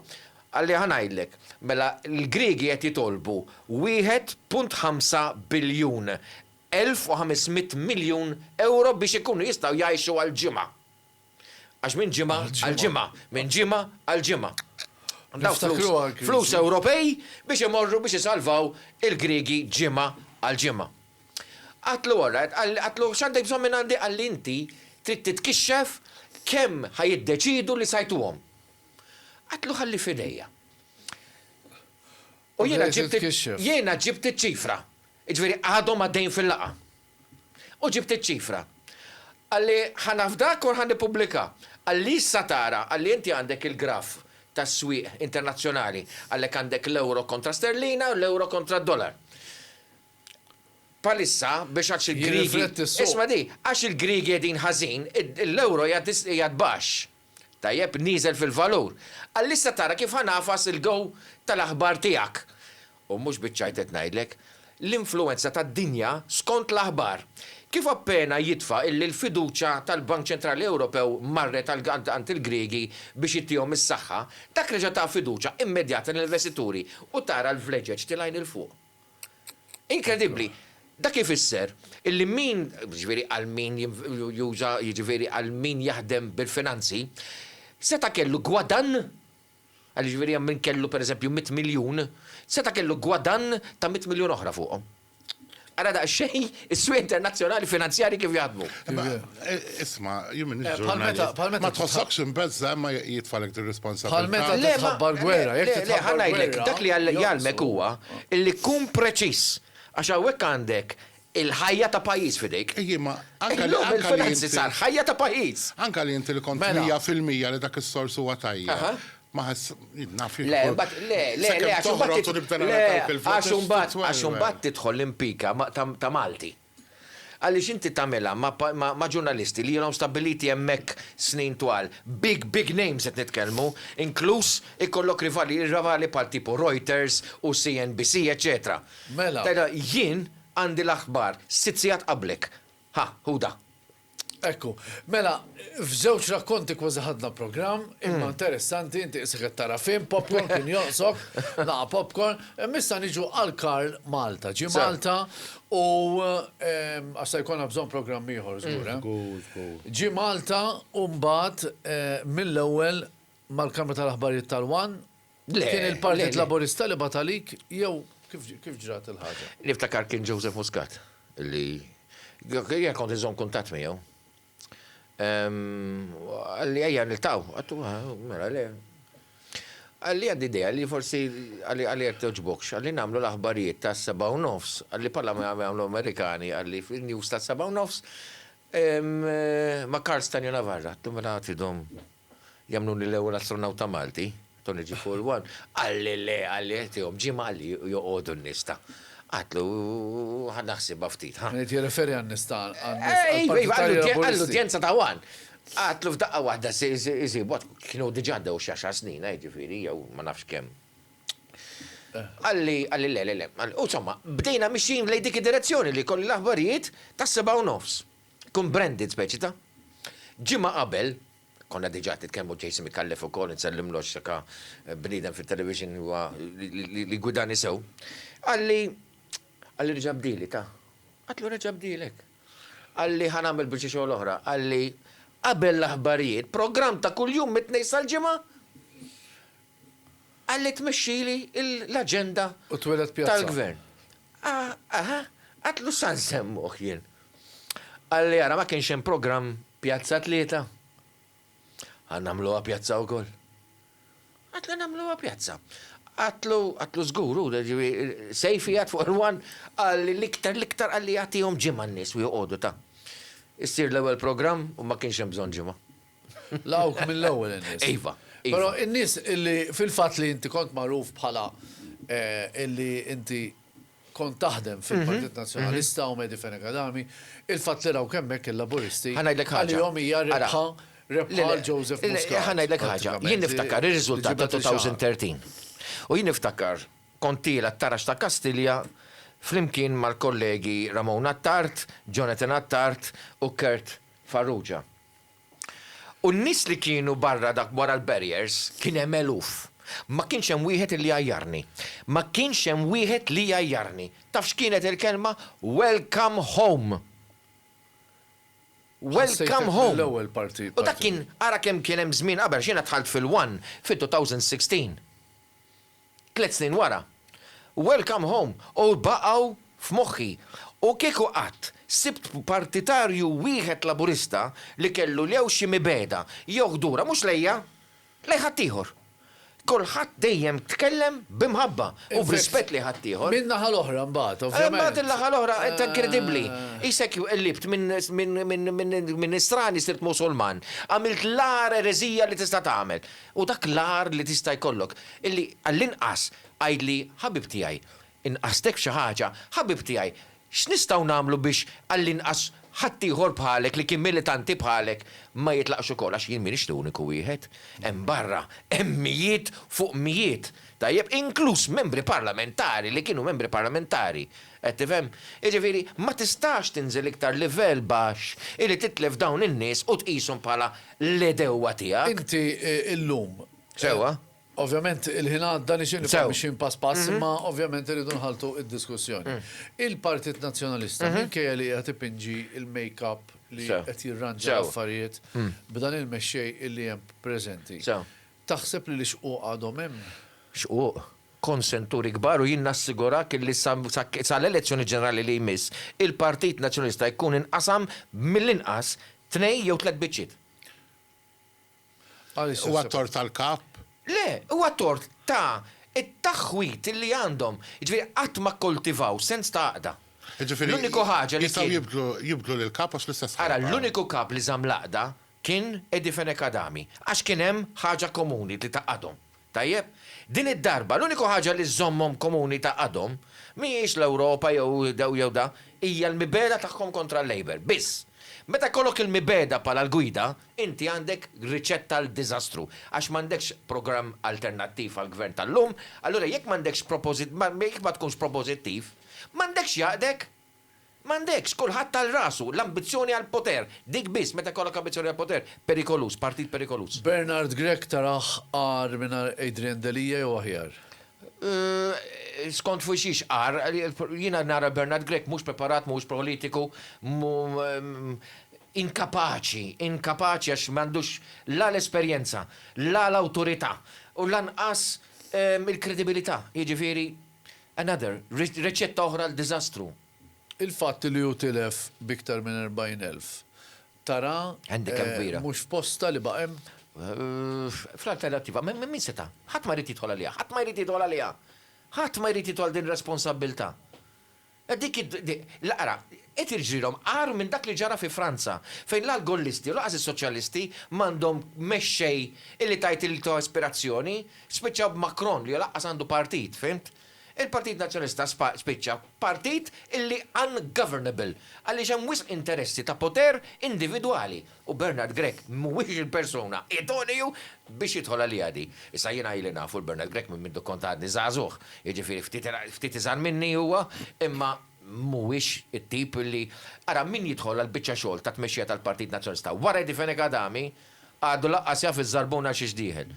Speaker 4: Qalli, Ħa ngħidlek, mela l-Griegi qed jitolbu wieħed punt ħamsa biljun 1,500 miljun ewro biex ikunu jistgħu jgħixu għal ġimgħa. Għax minn ġimgħa għal ġimgħa, minn ġimgħa għal ġimgħa. Dawn flus, flus Ewropej biex imorru biex isalvaw il-Griegi ġimgħa għal ġimgħa. Qatlu alright, qatlu x'għandek bżonn minn għandi? Qalli inti trid titkixxef kemm ħa jiddeċiedu li sajtuhom. Qatlu ħalli f'idejja. U jiena ġibt, jiena ġibt iċ-ċifra. Jiġifieri għadhom għaddejjin fil-laqgħa. U ġibt iċ-ċifra. Qalli, Ħa nafdak u ħa nippublika. Qalli, Issa tara, qalli, inti għandek il-graf tas-swieq internazzjonali. Għalhekk għandek l-ewro kontra sterlina u l-ewro kontra d-dollar. Bħalissa, biex għax il-Griegi, isma' di, għax il-Griegi qegħdin ħażin, l-ewro qiegħed baxx. Tajjeb nieżel fil-valur. Għalissa tara kif ħa ngħafas il-go tal-aħbar tiegħek. U mhux biċ-ċajt qed ngħidlek. L-influwenza tad-dinja skont l-aħbar. Kif appena jitfa' illi l-fiduċja tal-Bank Ċentrali Ewropew marret għal għand il-Griegi biex ittihom is-saħħa, dak reġa' ta fiduċja immedjata lill-investituri u tara l-vleġeġ tilgħin 'il fuq. Inkredibbli! Dak ifisser illi min, jiġifieri għal min juża, jiġifieri għal min jaħdem bil-finanzi, seta' kellu gwadann, għal jiġifieri hemm min kellu pereżempju mitt miljun, seta' kellu gwadann ta' mitt miljun oħra fuqhom. Ara daqsxejn Is-swieq internazzjonali finanzjarji kif jaħdmu? Imma isma',
Speaker 3: jien m'iniex ġurnalist. Ma
Speaker 2: tħossokx imbeżża'
Speaker 3: imma jitfgħalek din ir-responsabbiltà? Bħal meta
Speaker 2: trid
Speaker 3: tħabbar gwerra, jekk
Speaker 2: trid tħabbar gwerra. Le, le, ħa ngħidlek, dak
Speaker 4: li jgħallmek huwa li kun preċiż, għax hawnhekk għandek il-ħajja ta' pajjiż f'idejk. Ejja, imma anke li
Speaker 3: inti. Il-finanzi
Speaker 4: sar ħajja ta' pajjiż. Anke li inti li kont
Speaker 3: mija fil-mija li dak
Speaker 2: is-sors
Speaker 3: huwa tajjeb. Ma
Speaker 4: ħass,
Speaker 3: naf li. Le, bat, le,
Speaker 4: le, le, għax toħroġ u nibda nagħmel dawk il-voti. Għax imbagħad, għax imbagħad tidħol l-impika ta' Malti. Għaliex inti tagħmilha ma' ġurnalisti li ilhom stabbiliti hemmhekk snin twal, big, big names qed nitkellmu, inkluż ikollok rivali, rivali bħal tipu Reuters u CNBC, eċċetera. Mela. Tgħidilha,
Speaker 2: jien
Speaker 4: għandi l-aħbar sitt sigħat qablek. Ħa, hu da. Ekku.
Speaker 2: Mela, f'żewġ rakkonti kważi ħadna programm, imma interessanti, inti qisek qed tara film, popcorn kien jonqsok, laqgħa popcorn. Imma issa niġu għal Karl Malta. Ġie Malta u għax se jkollna bżonn programm ieħor żgur, eh? Żgur, żgur. Ġie Malta u mbagħad mill-ewwel mal-Kamra tal-Aħbarijiet tal-one, Le. Kien il-Partit Laburista li bagħat għalik jew kif ġrat il-ħaġa? Niftakar kien Joseph
Speaker 4: Muscat li jien kont iżomm kuntatt miegħu. Għalli ejja niltaw, għattu mela le. Għalli għandi idea li forsi għalli għalli għek toġbokx, għalli namlu l-aħbarijiet ta' seba' u nofs, għalli pala ma jagħmlu Amerikani, għalli fil-news ta' seba' u nofs, ma' Karl Stanju Navarra, għattu mela għatidhom. Jagħmluni l-ewwel astronawta Malti, Tony G. Full One, qalli le, qalli qed iegħu b'ġimgħa qalli joqogħdu n-nies ta'. Għadtlu ħa naħsibha ftit, ħa. Qed jirreferi għan-nies
Speaker 2: ta' għall-Partit Laburisti. Iva, iva, għall-udjenza
Speaker 4: ta' one. Għadtlu f'daqqa waħda isibu, kienu diġà għaddew xi għaxar snin, ha, jiġifieri, jew ma nafx kemm. Qalli, qalli le, le, le. U insomma, bdejna mixjin lejn dik id-direzzjoni li jkolli l-aħbarijiet tas-sebgħa u nofs. Tkun branded speċi ta'. Ġimgħa qabel, konna diġà qed nitkellmu Jason Micallef ukoll, insellimlu għax dak bniedem fit-television li huwa li jgwidani sew, qalli, qalli reġa' bdieli ta'. Għedtlu reġa' bdielek. Qalli ħa nagħmel biċċa xogħol oħra, qalli qabel l-aħbarijiet, programm ta' kuljum mit-Tnejn sal-Ġimgħa. Għalli tmexxili l-aġenda tal-Gvern. Aha, għadtlu sa nsemmuh jien. Qalli ara ma kienx hemm programm Pjazza Tlieta? Ħa nagħmluha pjazza wkoll. Għadtlu nagħmluha pjazza. Għadtlu, għadtlu żgur hu, Sejfi għad fuq il-one qalli l-iktar, l-iktar qalli agħtihom ġimgħa n-nies u joqogħdu ta. Issir l-ewwel programm u ma kienx hemm bżonn ġimgħa. Lawk
Speaker 2: mill-ewwel in-nies. Iva. iva. Però
Speaker 4: in-nies
Speaker 2: illi fil-fatt li inti kont magħruf bħala eh, illi inti kont taħdem mhm. fil-Partit mhm. Nazzjonalista u Medi Fenegadami, il-fatt li raw kemmek il-Laburisti. Ħanajdlek ħaġa. Għalihom hija
Speaker 4: rebħa
Speaker 2: rebħa Joseph Muscat. Eh, ħanajdlek ħaġa. Jien
Speaker 4: niftakar ir-riżultat ta' 2013. U jien niftakar kontila t-tarax ta' Kastilja flimkien mal-kollegi Ramon Attart, Jonathan Attart u Kurt Farrugia. U n-nies li kienu barra dak wara l-barriers kien hemm eluf. Ma kienx hemm wieħed illi jgħajjarni. Ma kienx hemm wieħed li jgħajjarni. Taf x'kienet il-kelma? Welcome home! Welcome home! U dak
Speaker 2: kien, ara
Speaker 4: kemm kien hemm żmien qabel, għax jiena dħalt fil-one fit-2016. Tliet snin wara, Welcome Home hu baqgħu f'moħħi u kieku qatt sibt partitarju wieħed Laburista li kellu lew xi mibegħda jew ħdura mhux lejja, lejn ħaddieħor. Kulħadd dejjem tkellem bi mħabba u b'rispett lejn ħaddieħor. Min-naħa l-oħra mbagħad,
Speaker 2: ovvjament. Imbagħad in-naħa l-oħra qed
Speaker 4: inkredibbli. Qisek qlibt minn Nisrani sirt Musulman. Għamilt l-agħar ereżija li tista' tagħmel. Hu dak l-agħar li tista' jkollok, illi għall-inqas għidli, Ħabib tiegħi, inqastek f'xi ħaġa? Ħabib tiegħi, x'nistgħu nagħmlu biex għall-inqas ħaddieħor bħalek li kien militanti bħalek ma jitlaqx ukoll? Għax jien m'iniex l-uniku wieħed. Hemm barra, hemm mijiet fuq mijiet, tajjeb, inkluż membri parlamentari li kienu membri parlamentari. Qed tifhem? Jiġifieri, ma tistax tinżel iktar livell baxx illi titlef dawn in-nies u tqishom bħala
Speaker 2: l-għedewwa
Speaker 4: tiegħek. Inti llum. Sewwa.
Speaker 2: Ovvjament il-ħin għadda nixtieq nibqgħu mixjin pass pass
Speaker 4: imma
Speaker 2: ovvjament irridu nħalltu d-diskussjoni. Il-Partit Nazzjonalista minkejja li qiegħed ipinġi l-make up li qed jirranġa
Speaker 4: l-affarijiet
Speaker 2: b'dan il-mexxej li hemm preżenti. Taħseb
Speaker 4: li l-ixquq
Speaker 2: għadhom hemm? Xquq?
Speaker 4: Kont senturi kbar u jien nassigurak illi sa sa l-elezzjoni ġenerali li jmiss, il-Partit Nazzjonalista jkun inqasam mill-inqas tnejn jew tliet biċċiet. Għaliex
Speaker 2: taħseb hekk? Huwa tort tal-Kap?
Speaker 3: Le, huwa
Speaker 4: tort ta' t-taħwid illi għandhom. Jiġifieri qatt ma kkultivaw sens ta' għaqda. Jiġifieri,
Speaker 3: jistgħu
Speaker 4: jibdlu
Speaker 3: jibdlu
Speaker 4: lill-Kap għax
Speaker 3: l-istess ħajja. Ara, l-uniku Kap
Speaker 4: li żamm
Speaker 3: l-għaqda
Speaker 4: Kien Eddie Fenech Adami, għax kien hemm ħaġa komuni li tgħaqqadhom. Tajjeb? Din id-darba l-uniku ħaġa li żżommhom komuni tgħaqqadhom mhijiex l-Ewropa jew daw jew dak, hija l-mibegħda tagħhom kontra l-Labour, biss. Meta jkollok il-mibegħda bħala l-gwida, inti għandek riċetta għal diżastru, għax m'għandekx programm alternattiv għall-Gvern tal-lum, allura jekk m'għandekx propożit, jekk ma tkunx propożittiv, m'għandekx jaqdek. M'għandekx, kulħadd għal rasu, l-ambizzjoni għall-poter, dik biss, meta jkollok ambizzjoni għall-poter, perikoluż, partit perikoluż. Bernard Grech
Speaker 2: tarah agħar mingħajr Adrian Delia jew aħjar? Skont
Speaker 4: fuq xiex agħar, jiena nara Bernard Grech mhux preparat, mhuwiex politiku, inkapaċi, inkapaċi għax m'għandux la l-esperjenza, la l-awtorità u lanqas il-kredibilità, jiġifieri, Another, riċetta oħra għal diżastru. Il-fatt
Speaker 2: li hu tilef b'iktar minn 40,000 tara
Speaker 4: mhux f'postha li baqa'
Speaker 2: hemm?
Speaker 4: Fl-alternattiva, min seta'? Ħadd ma jrid jidħol għaliha, ħadd ma jrid jidħol għaliha! Ħadd ma jrid jidħol din ir-responsabbiltà. Dik hi, ara, qed jiġrilhom agħar minn dak li ġara fi Franza, fejn la l-gollisti u lanqas is-soċjalisti m'għandhom mexxej illi tgħid li ta' ispirazzjoni, spiċċaw b'Macron li lanqas għandu partit, fhimt? Il-Partit Nazzjonalista spiċċa partit illi ungovernable għaliex hemm wisq interessi ta' poter individwali. U Bernard Grech mhuwiex il-persuna idoneu biex jidħol għaliha di. Issa jiena ili nafu 'l Bernard Grech minn mindu kont għadni żagħżugħ, jiġifieri ftit ftit iżgħar minni huwa, imma mhuwiex it-tip li Ara min jidħol għall-biċċa xogħol ta' tmexxija tal-Partit Nazzjonalista wara Eddie Fenech Adami għadu lanqas jaf iż-żarbuna xiex dieħel.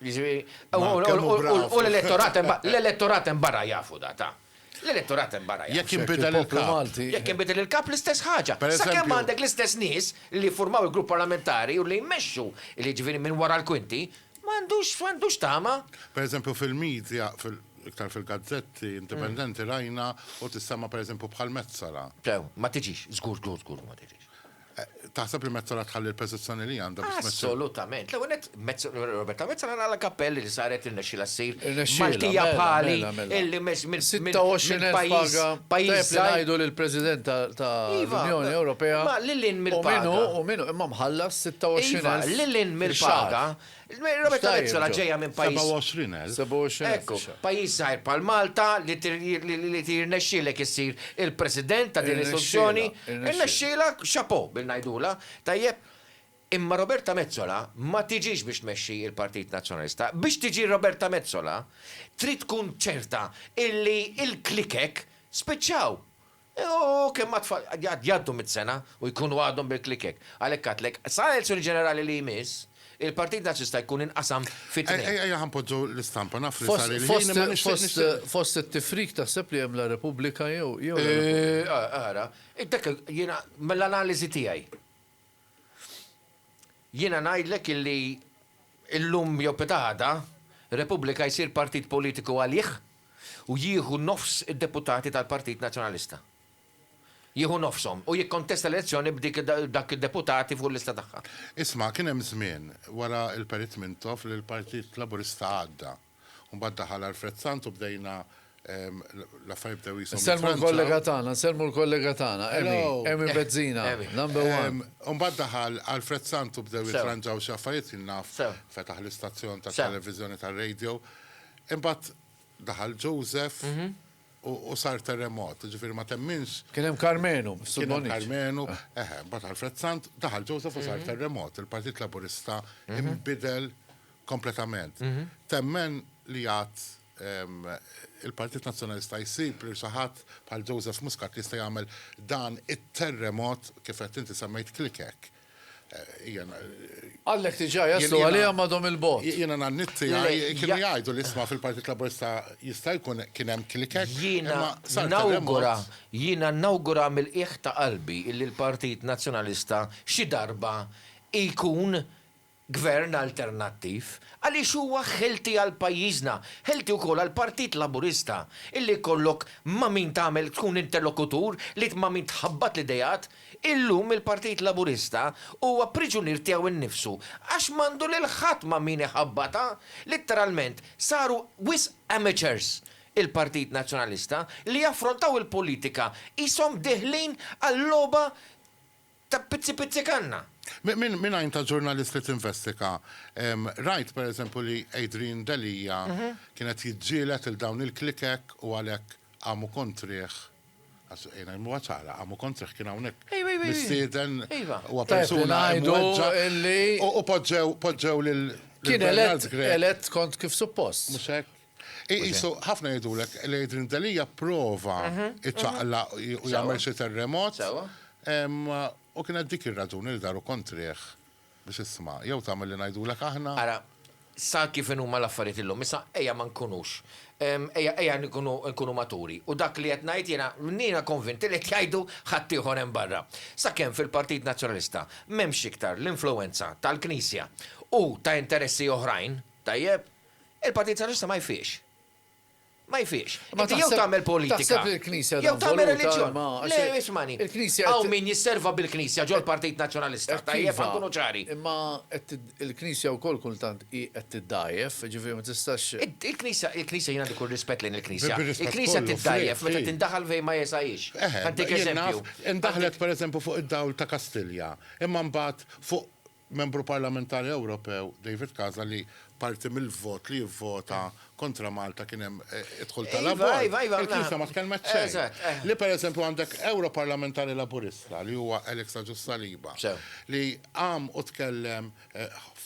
Speaker 4: U l-elettorat l-elettorat hemm barra jafu da ta. L-elettorat hemm barra jafu. Jekk jinbidel il-kap.
Speaker 3: Jekk jinbidel il-kap
Speaker 4: l-istess ħaġa. Sakemm għandek l-istess nies li jiffurmaw il-grupp parlamentari u li jmexxu jiġifieri minn wara l-kwinti, m'għandux m'għandux tama. Pereżempju
Speaker 3: fil-media, iktar fil-gazzetti indipendenti rajna u tissemma' pereżempju bħal Metsola. Le, ma tiġix,
Speaker 4: żgur, żgur, żgur li ma tiġix. Taħseb
Speaker 3: li Metsola tħalli l-peżizzjoni li għandha biex tmexxi? Assolutament. L-ewwel nett,
Speaker 4: Roberta Metsola nagħlaq kappell li saret irnexxielha ssir Maltija
Speaker 2: bħali
Speaker 4: illi
Speaker 2: minn
Speaker 4: minn
Speaker 2: pajjiż. 26,000 paga. Tajjeb li ngħidu
Speaker 4: li l-President
Speaker 2: tal-Unjoni Ewropea. Iva, ma' lil hinn mill-paga. U min
Speaker 4: hu, u min hu, imma mħallas
Speaker 2: 26,000. Iva,
Speaker 4: lil hinn
Speaker 2: mill-paga,
Speaker 4: Roberta Metsola ġejja minn
Speaker 2: pajjiż. 27,000. 27,000
Speaker 4: Ekku, fisha.
Speaker 2: pajjiż żgħir
Speaker 4: bħal
Speaker 2: Malta
Speaker 4: li tir li li li jirnexxielek issir il-President ta' din l-istituzzjoni, Irnexxielha, irnexxielha. irnexxielha, chapeau bil ngħidulha, tajjeb. Imma Roberta Metsola ma tiġix biex tmexxi l-Partit Nazzjonalista. Biex tiġi Roberta Metsola trid tkun ċerta illi l-klikek spiċċaw. U kemm ma tfal għad jgħaddu mitt sena u jkunu għadhom bil-klikek. Għalhekk għedtlek, sa l-elezzjoni ġenerali li jmiss, il-Partit Nazzista jkun inqasam fi tnejn. Ejja ejja ħa npoġġu
Speaker 3: l-istampa, naf li sar il-ħin imma nixtieq nixtieq. Fost it-tifrik
Speaker 2: taħseb li hemm la Repubblika jew la Repubblika? Ara,
Speaker 4: dak jiena mill-analiżi tiegħi. Jiena ngħidlek illi llum jew peta' għada, Repubblika jsir partit politiku għalih u jieħu nofs id-deputati tal-Partit Nazzjonalista. Jieħu nofshom u jikkontesta l-elezzjoni b'dik dak id-deputati fuq il-lista tagħha. Isma', kien hemm
Speaker 3: żmien, wara l-Perit Mintoff, li l-Partit Laburista għadda. U mbagħad daħal Alfred Sant u bdejna l-affarijiet bdew qishom. Insellmu l-kollega tagħna,
Speaker 2: nsellmu l-kollega tagħna, Emi, Emi Bezzina, number one.
Speaker 4: U
Speaker 2: mbagħad daħal
Speaker 3: Alfred Sant u bdew jitranġaw xi affarijiet jien naf, fetaħ l-istazzjon tat-televiżjoni tar-radio. Imbagħad daħal Joseph u sar terremot, jiġifieri ma temminx. Kien hemm Karmenu,
Speaker 2: Sur Bonniċ. Kien hemm Karmenu,
Speaker 3: eħe, mbagħad Alfred Sant, daħal Joseph u sar terremot. Il-Partit Laburista inbidel kompletament. Temmen li għad il-Partit Nazzjonalista jsib li saħat bħal Joseph Muscat li jista' jagħmel dan it-terremot kif qed inti semmejt klikek.
Speaker 2: Għallek tiġa jaslu għalija madhom il-bot. Jiena nannitti għaj
Speaker 3: kienu jgħidu li jisma fil-Partit Laburista jista' jkun kien hemm klikek. Jiena nawgura,
Speaker 4: jiena nawgura mill-qiegħ ta' qalbi illi l-Partit Nazzjonalista xi darba jkun Gvern alternattiv, għaliex huwa healthy għal pajjiżna, healthy wkoll għall-Partit Laburista, illi jkollok ma' min tagħmel tkun interlokutur li ma' min tħabbat l-ideat, illum il-Partit Laburista huwa priġunier tiegħu nnifsu għax m'għandu lil ħadd ma' min iħabbatha, litteralment saru wisq amateurs il-Partit Nazzjonalista li jaffrontaw il-politika qishom dieħlin għal logħba Ta' pizzi pizzi kanna! Minn għajn ta'
Speaker 3: ġurnalist li tinvestiga, rajt per eżempju li Adrian Delia kien qed jiġġieled lil dawn il-klikek u għalhekk qamu kontrih, ejna ngħimuha ċara, qamu kontrih, kien hawnhekk mistieden, huwa persuna imweġġa' u poġġew lil Bernard Grech.
Speaker 2: Kien elett kont kif suppost. Mhux hekk?
Speaker 3: Iqisu, ħafna jgħidulek li Adrian Delia prova iċaqlaq u jagħmel xi terremot. U kienet dik ir-raġuni li daru kontrih biex isma' jew tagħmel li ngħidulek aħna. Ara,
Speaker 4: sa kif inhuma l-affarijiet illum, issa ejja ma nkunux, ejja nkunu maturi. U dak li qed ngħid jiena, jiena konvint li qed jgħidu ħaddieħor hemm barra. Sakemm fil-Partit Nazzjonalista m'hemmx iktar l-influwenza tal-Knisja u ta' interessi oħrajn, tajjeb? Il-Partit Soċjalista ma jfiqx. Ma jfiqx. Inti jew tagħmel politika, jew
Speaker 2: tagħmel reliġjon.
Speaker 4: Le, ismagħni. Hawn min
Speaker 2: jisserva
Speaker 4: bil-Knisja ġol-Partit Nazzjonalista, tajjeb ħa nkunu ċari. Imma
Speaker 2: il-Knisja wkoll kultant hi qed tiddgħajjef, jiġifieri ma tistax. Il-Knisja, il-Knisja
Speaker 4: jien għandi kull rispett lejn il-Knisja. Il-Knisja tiddgħajjef meta tindaħal fejn ma jesgħix. Ħa ntik eżempju. Indaħlet pereżempju
Speaker 3: fuq id-dawl ta' Kastilja, imma mbagħad fuq Membru Parlamentari Ewropew David Casa li parti mill-vot li jivvota kontra Malta kien hemm id-dħul tal-abort, il-Knisja ma tkellmet xejn. Li per eżempju għandek Ewroparlamentari Laburista li huwa Alex Agius Saliba li qam u tkellem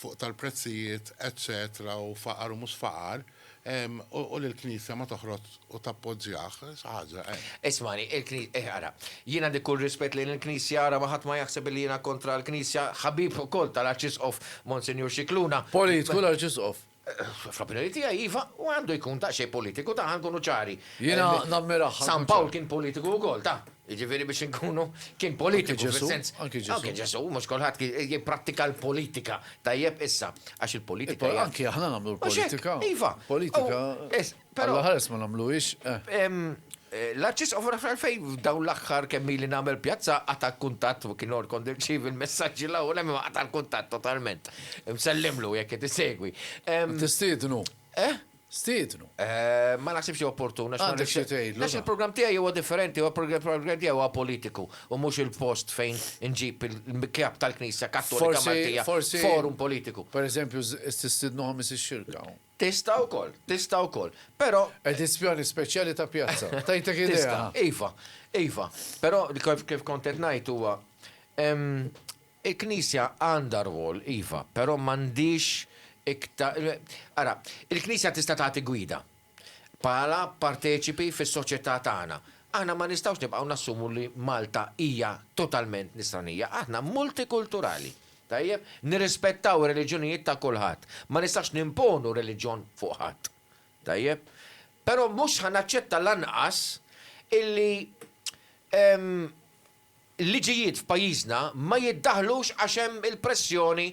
Speaker 3: fuq tal-prezzijiet eċċetera u faqar u mhux faqar, U li l-Knisja ma toħroġ u tappoġġjah, xi ħaġa, eh. Ismagħni, il-Kni-,
Speaker 4: eh, ara, jien għandi kull rispett lejn il-Knisja, ara ma ħadd ma jaħseb illi jiena kontra l-Knisja, ħabib ukoll tal-Arċisqof Monsinjur Scicluna. Politiku l-Arċisqof?
Speaker 2: Fl-opinjoni
Speaker 4: tiegħi iva, u għandu jkun daqsxejn politiku, ta' ħa nkunu ċari. Jiena nammirah.
Speaker 2: San Pawl kien politiku
Speaker 4: wkoll, ta'. Jiġifieri biex inkunu, kien politiku fis-sens. Anki Ġesù. Anki Ġesù,
Speaker 2: mhux
Speaker 4: kulħadd jipprattika l-politika. Tajjeb, issa, għax il-politika hija. Anki aħna nagħmlu l-politika.
Speaker 2: Mhux hekk, iva. Politika. Alla ħares ma nagħmluhiex.
Speaker 4: L-Arċisqof naf għalfejn f'dawn l-aħħar kemm ili nagħmel pjazza qata' l-kuntatt u kien kont nirċievi l-messaġġi l-ewwel hemm imma qata' l-kuntatt totalment. Msellimlu jekk qed isegwi. Tistiednu.
Speaker 2: Eħ? Stiednu. Ma
Speaker 4: naħsibx li opportun għax. Għandek xi tgħidlu. Għax
Speaker 2: il-programm tiegħi huwa
Speaker 4: differenti, huwa programm tiegħi huwa politiku u mhux il-post fejn inġib il-kap tal-Knisja Kattolika Maltija f'forum politiku. Per eżempju,
Speaker 2: tistiednu Ħamis ix-Xirka. Tista' wkoll,
Speaker 4: tista' wkoll. Però. Edizzjoni speċjali
Speaker 2: ta' pjazza. Tgħidlek idea. Tista', iva, iva.
Speaker 4: Però kif kont qed ngħid huwa hemm Il-Knisja għandha rwol, iva, però m'għandhiex ikta. Ara, il-Knisja tista' tagħti gwida, bħala parteċipi fis-soċjetà tagħna. Aħna ma nistgħux nibqgħu nassumu li Malta hija totalment nisranija. Aħna multikulturali, tajjeb? Nirrispettaw ir-reliġjonijiet ta' kulħadd. Ma nistax nimponu reliġjon fuq ħadd. Tajjeb? Però mhux ħa naċċetta lanqas illi, ehm, Il-liġijiet f'pajjiżna ma jiddaħħlux għax hemm il-pressjoni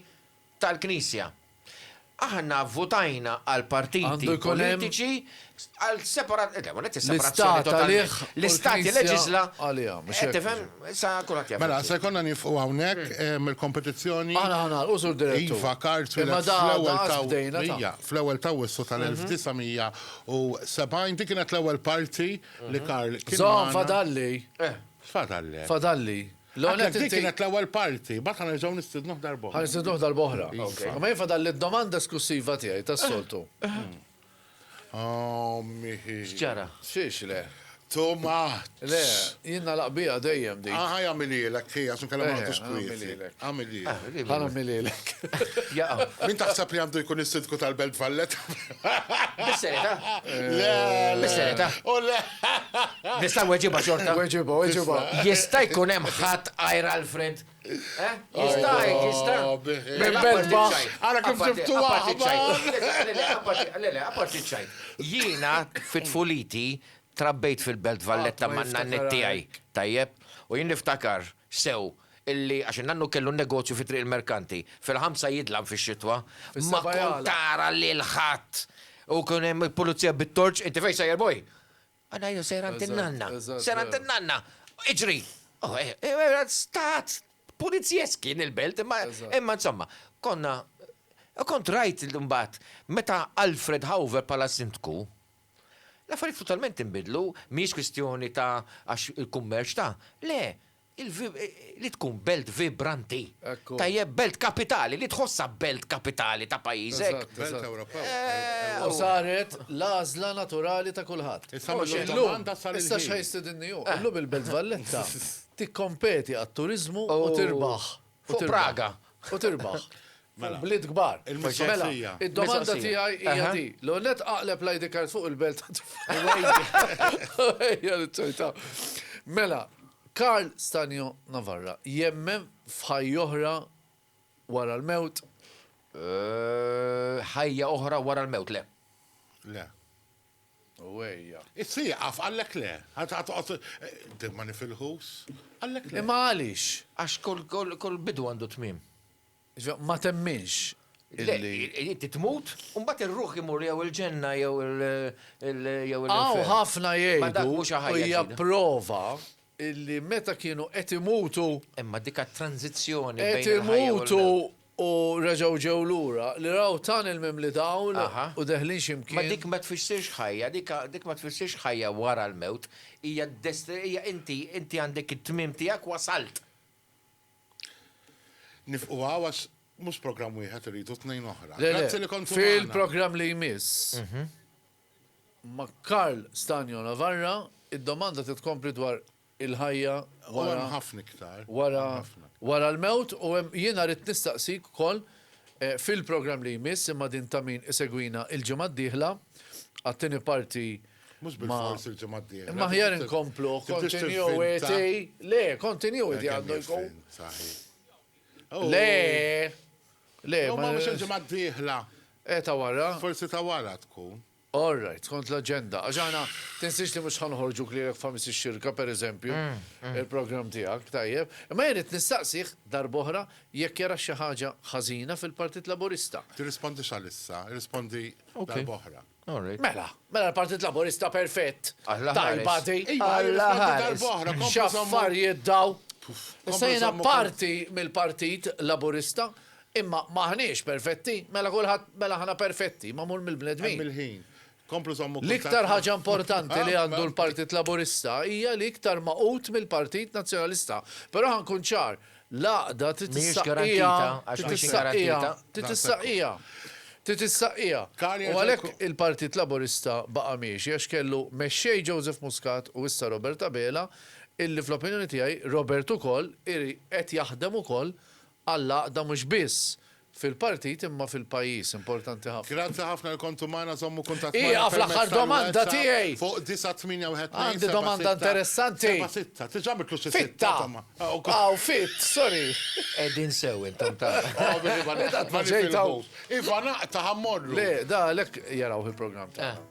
Speaker 4: tal-Knisja. Aħna vvutajna għal partiti politiċi għal separazzjoni totali. L-Istat jileġiżla, qed tifhem? Issa kulħadd jaf. Mela, se jkollna nieqfu
Speaker 3: hawnhekk mill-kompetizzjoni. Aħna ħa nagħlqu, Sur
Speaker 2: Direttur. Iva, Karl twieled
Speaker 3: fl-ewwel ta' Ija, fl-ewwel ta' Awwissu tal-1970. Dik kienet l-ewwel parti li Karl kien magħna. Żomm, fadalli. X'fadallek?
Speaker 2: Fadalli. L-ewwel nett inti. Dik kienet
Speaker 3: l-ewwel parti, mbagħad ħa nerġgħu nistidnuh darba oħra. Ħa nistidnuh darba oħra.
Speaker 2: Imma jien fadalli d-domanda esklussiva tiegħi tas-soltu. X'ġara?
Speaker 3: Xiex le? Too much. Le, jien
Speaker 2: nagħlaq biha dejjem dik. Aha, jagħmilhielek hi
Speaker 3: għax inkella ma nagħtux kwieti.
Speaker 2: Għamilhielek.
Speaker 3: Ħa nagħmilhielek.
Speaker 2: Jaqgħu.
Speaker 4: Min taħseb li għandu
Speaker 3: jkun is-Sindku tal-Belt Valletta? Bis-serjetà?
Speaker 4: Le,
Speaker 3: bis-serjetà.
Speaker 4: U le.
Speaker 3: Nista'
Speaker 4: weġiba xorta? Weġiba, weġiba.
Speaker 2: Jista' jkun hemm
Speaker 4: ħadd għajr Alfred? Eh? Jista' jgħid, jista'. Minn Belba.
Speaker 2: Ara kif tiftu
Speaker 3: waħda. Le, le, apparti, le,
Speaker 4: le, apparti ċajt. Jiena fi tfuliti trabbejt fil-Belt Valletta man-nanniet tiegħi, tajjeb? U jien niftakar sew illi għax in-nannu kellu n-negozju fi Triq il-Merkanti, fil-ħamsa jidlam fix-xitwa, ma kont tara lil ħadd u kien hemm il-pulizija bit-torċ, inti fejn sejjer boi? Għana jien sejjer għand in-nanna, sejjer għand in-nanna, iġri! Stat pulizjesk kien il-belt imma imma insomma, konna u kont rajt imbagħad meta Alfred Hauver bħala Sindku, l-affarijiet totalment inbidlu, mhijiex kwistjoni ta' għax il-kummerċ ta', le, Li tkun belt vibranti. Tajjeb, belt kapitali, li tħossha belt kapitali ta' pajjiżek.
Speaker 3: U saret
Speaker 2: l-għażla naturali ta' kulħadd.
Speaker 3: Issa x'ħa
Speaker 2: jistidinni hu? Illum il-Belt Valletta tikkompeti għat-turiżmu u tirbaħ. Fuq Praga
Speaker 4: u tirbaħ.
Speaker 2: Mela. Bliet kbar. Mela, id-domanda tiegħi hija di. L-ewwel nett aqleb l-ID card fuq il-belt. Mela, Karl Stanjo Navarra jemmen f'ħajja oħra wara l-mewt?
Speaker 4: Ħajja oħra wara l-mewt, le. Le.
Speaker 2: Uwejja. Issieqaf,
Speaker 3: għalhekk le. Għad toqgħod timmani fil-ħus? Għalhekk le. Imma għaliex? Għax
Speaker 2: kull
Speaker 4: bidu għandu tmiem. Ġifieri ma
Speaker 2: temminx illi. Le,
Speaker 4: inti tmut u mbagħad ir-ruħ imur jew il-ġenna jew il-infern. Hawn ħafna
Speaker 2: jgħidu u
Speaker 4: hija prova
Speaker 2: illi meta kienu qed imutu. Imma dik
Speaker 4: għat-tranżizzjoni bejn il-ħajja u l-mewt. Qed imutu U reġgħu
Speaker 2: ġew lura, li raw tunnel mimli dawl u deħlin xi
Speaker 4: mkien. Ma
Speaker 2: dik ma
Speaker 4: tfissirx ħajja, dik ma tfissirx ħajja wara l-mewt, hija hija inti, inti għandek it-tmiem tiegħek wasalt.
Speaker 3: Nifqu hawn għax mhux programm wieħed irridu tnejn oħra. Grazzi li kontu magħna.
Speaker 2: Fil-programm
Speaker 3: li jmiss
Speaker 2: ma' Karl Stagno Navarra, id-domanda titkompli dwar il-ħajja wara
Speaker 3: wara wara
Speaker 2: l-mewt u hemm jiena rrid nistaqsik ukoll fil-programm li jmiss imma din ta' min isegwina l-ġimgħa d-dieħla għat-tieni parti Mhux bilfors
Speaker 3: il-ġimgħa d-dieħla. Imma aħjar inkomplu
Speaker 2: continuity. Le, continuity għandu jkun. Le! Le! Ma
Speaker 3: mhux il-ġimgħa d-dieħla. Eh ta' wara.
Speaker 2: Forsi ta' wara
Speaker 3: tkun. All right, skont
Speaker 2: l-aġenda. Għax aħna, tinsiex li mhux ħa noħorġuk lilek f'ħamis ix-xirka, pereżempju, il-programm tiegħek, tajjeb. Imma jien ridt nistaqsih, darb'oħra, jekk jarax xi ħaġa ħażina fil-Partit Laburista. Tirrispondix għalissa,
Speaker 3: irrispondi darb'oħra. Mela,
Speaker 2: mela l-Partit Laburista perfett, tajba di. Iva, irrispondi
Speaker 4: darb'oħra, kompli
Speaker 2: żomm.
Speaker 3: X'affarijiet
Speaker 2: dawn! Issa jiena parti mill-Partit Laburista, Imma m'aħniex perfetti. Mela kulħadd, mela aħna perfetti, magħmul mill-bnedmin. Hemm il-ħin.
Speaker 3: Komplu żommu kuntatt ma'. L-iktar ħaġa importanti
Speaker 2: li għandu l-Partit Laburista hija li iktar magħqud mill-Partit Nazzjonalista. Però ħa nkun ċar, l-għaqda trid issaqqiha, trid issaqqiha, trid issaqqiha, trid issaqqiha. U għalhekk il-Partit Laburista baqa' miexi għax kellu mexxej Joseph Muscat u issa Robert Abela illi fl-opinjoni tiegħi Robert ukoll qed jaħdem ukoll għall-għaqda mhux biss fil-partit imma fil-pajjiż. Importanti ħafna. Grazzi ħafna li kontu
Speaker 3: magħna, żommu kuntatt magħna Ieqaf l-aħħar domanda
Speaker 2: tiegħi! fuq 9812767.
Speaker 3: Għandi domanda
Speaker 2: interessanti. Diġà għamiltlu
Speaker 3: xi sitta. Fitta!
Speaker 2: Aw, fit, sorry. Qegħdin sew
Speaker 4: intom ta'.
Speaker 3: Iva naqta' ħa mmorru. Le, da għalhekk
Speaker 2: jarawh il-programm tagħna.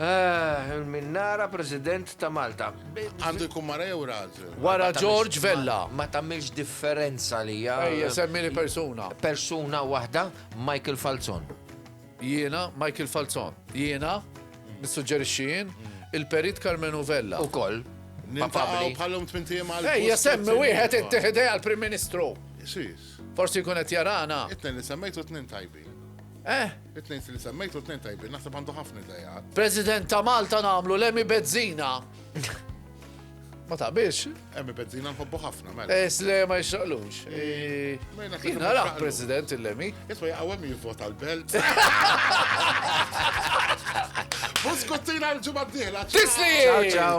Speaker 4: Ah, il-minnara President ta' Malta. Għandu jkun mara
Speaker 3: jew raġel. Wara George Vella.
Speaker 2: Ma tagħmilx
Speaker 4: differenza li hija. Ejja, semmili
Speaker 2: persuna. Persuna waħda,
Speaker 4: Michael Falzon. Jiena,
Speaker 2: Michael Falzon. Jiena, nissuġġerixxi jien, il-perit Carmenu Vella. Ukoll. Nintaqgħu
Speaker 3: bħalhom
Speaker 4: tmintiem
Speaker 3: għal. Ejja,
Speaker 2: semmi wieħed
Speaker 3: inti
Speaker 4: ħidej
Speaker 2: għall-Prim
Speaker 3: Ministru. Forsi jkun qed
Speaker 2: jarana. Itnen li semmejtu tnin
Speaker 3: tajbin. Eh? It-tnejn li semmejt u t-tnejn tajbin, naħseb għandu ħafna idejat. President ta' Malta
Speaker 2: namlu l-emi bezzina. Ma taqbilx? Emi bezzina nħobbu
Speaker 3: ħafna, mela. Es le ma jxaqlux.
Speaker 2: Jina raħ president il-lemi. Isma jgħawem jivvota
Speaker 3: l-belt. Buskuttina l-ġumma d-dihla. Tisli! Ciao, ciao.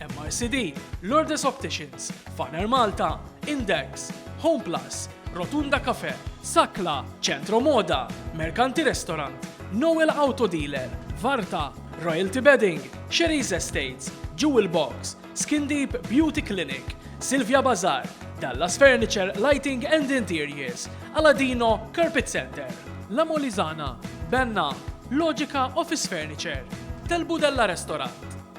Speaker 1: MRCD, Lourdes Opticians, Faner Malta, Index, Homeplus, Rotunda Cafe, Sakla, Centro Moda, Mercanti Restaurant, Noel Auto Dealer, Varta, Royalty Bedding, Sherry's Estates, Jewel Box, Skin Deep Beauty Clinic, Silvia Bazar, Dallas Furniture Lighting and Interiors, Aladino Carpet Center, La Molizana, Benna, Logica Office Furniture, Telbudella Restaurant,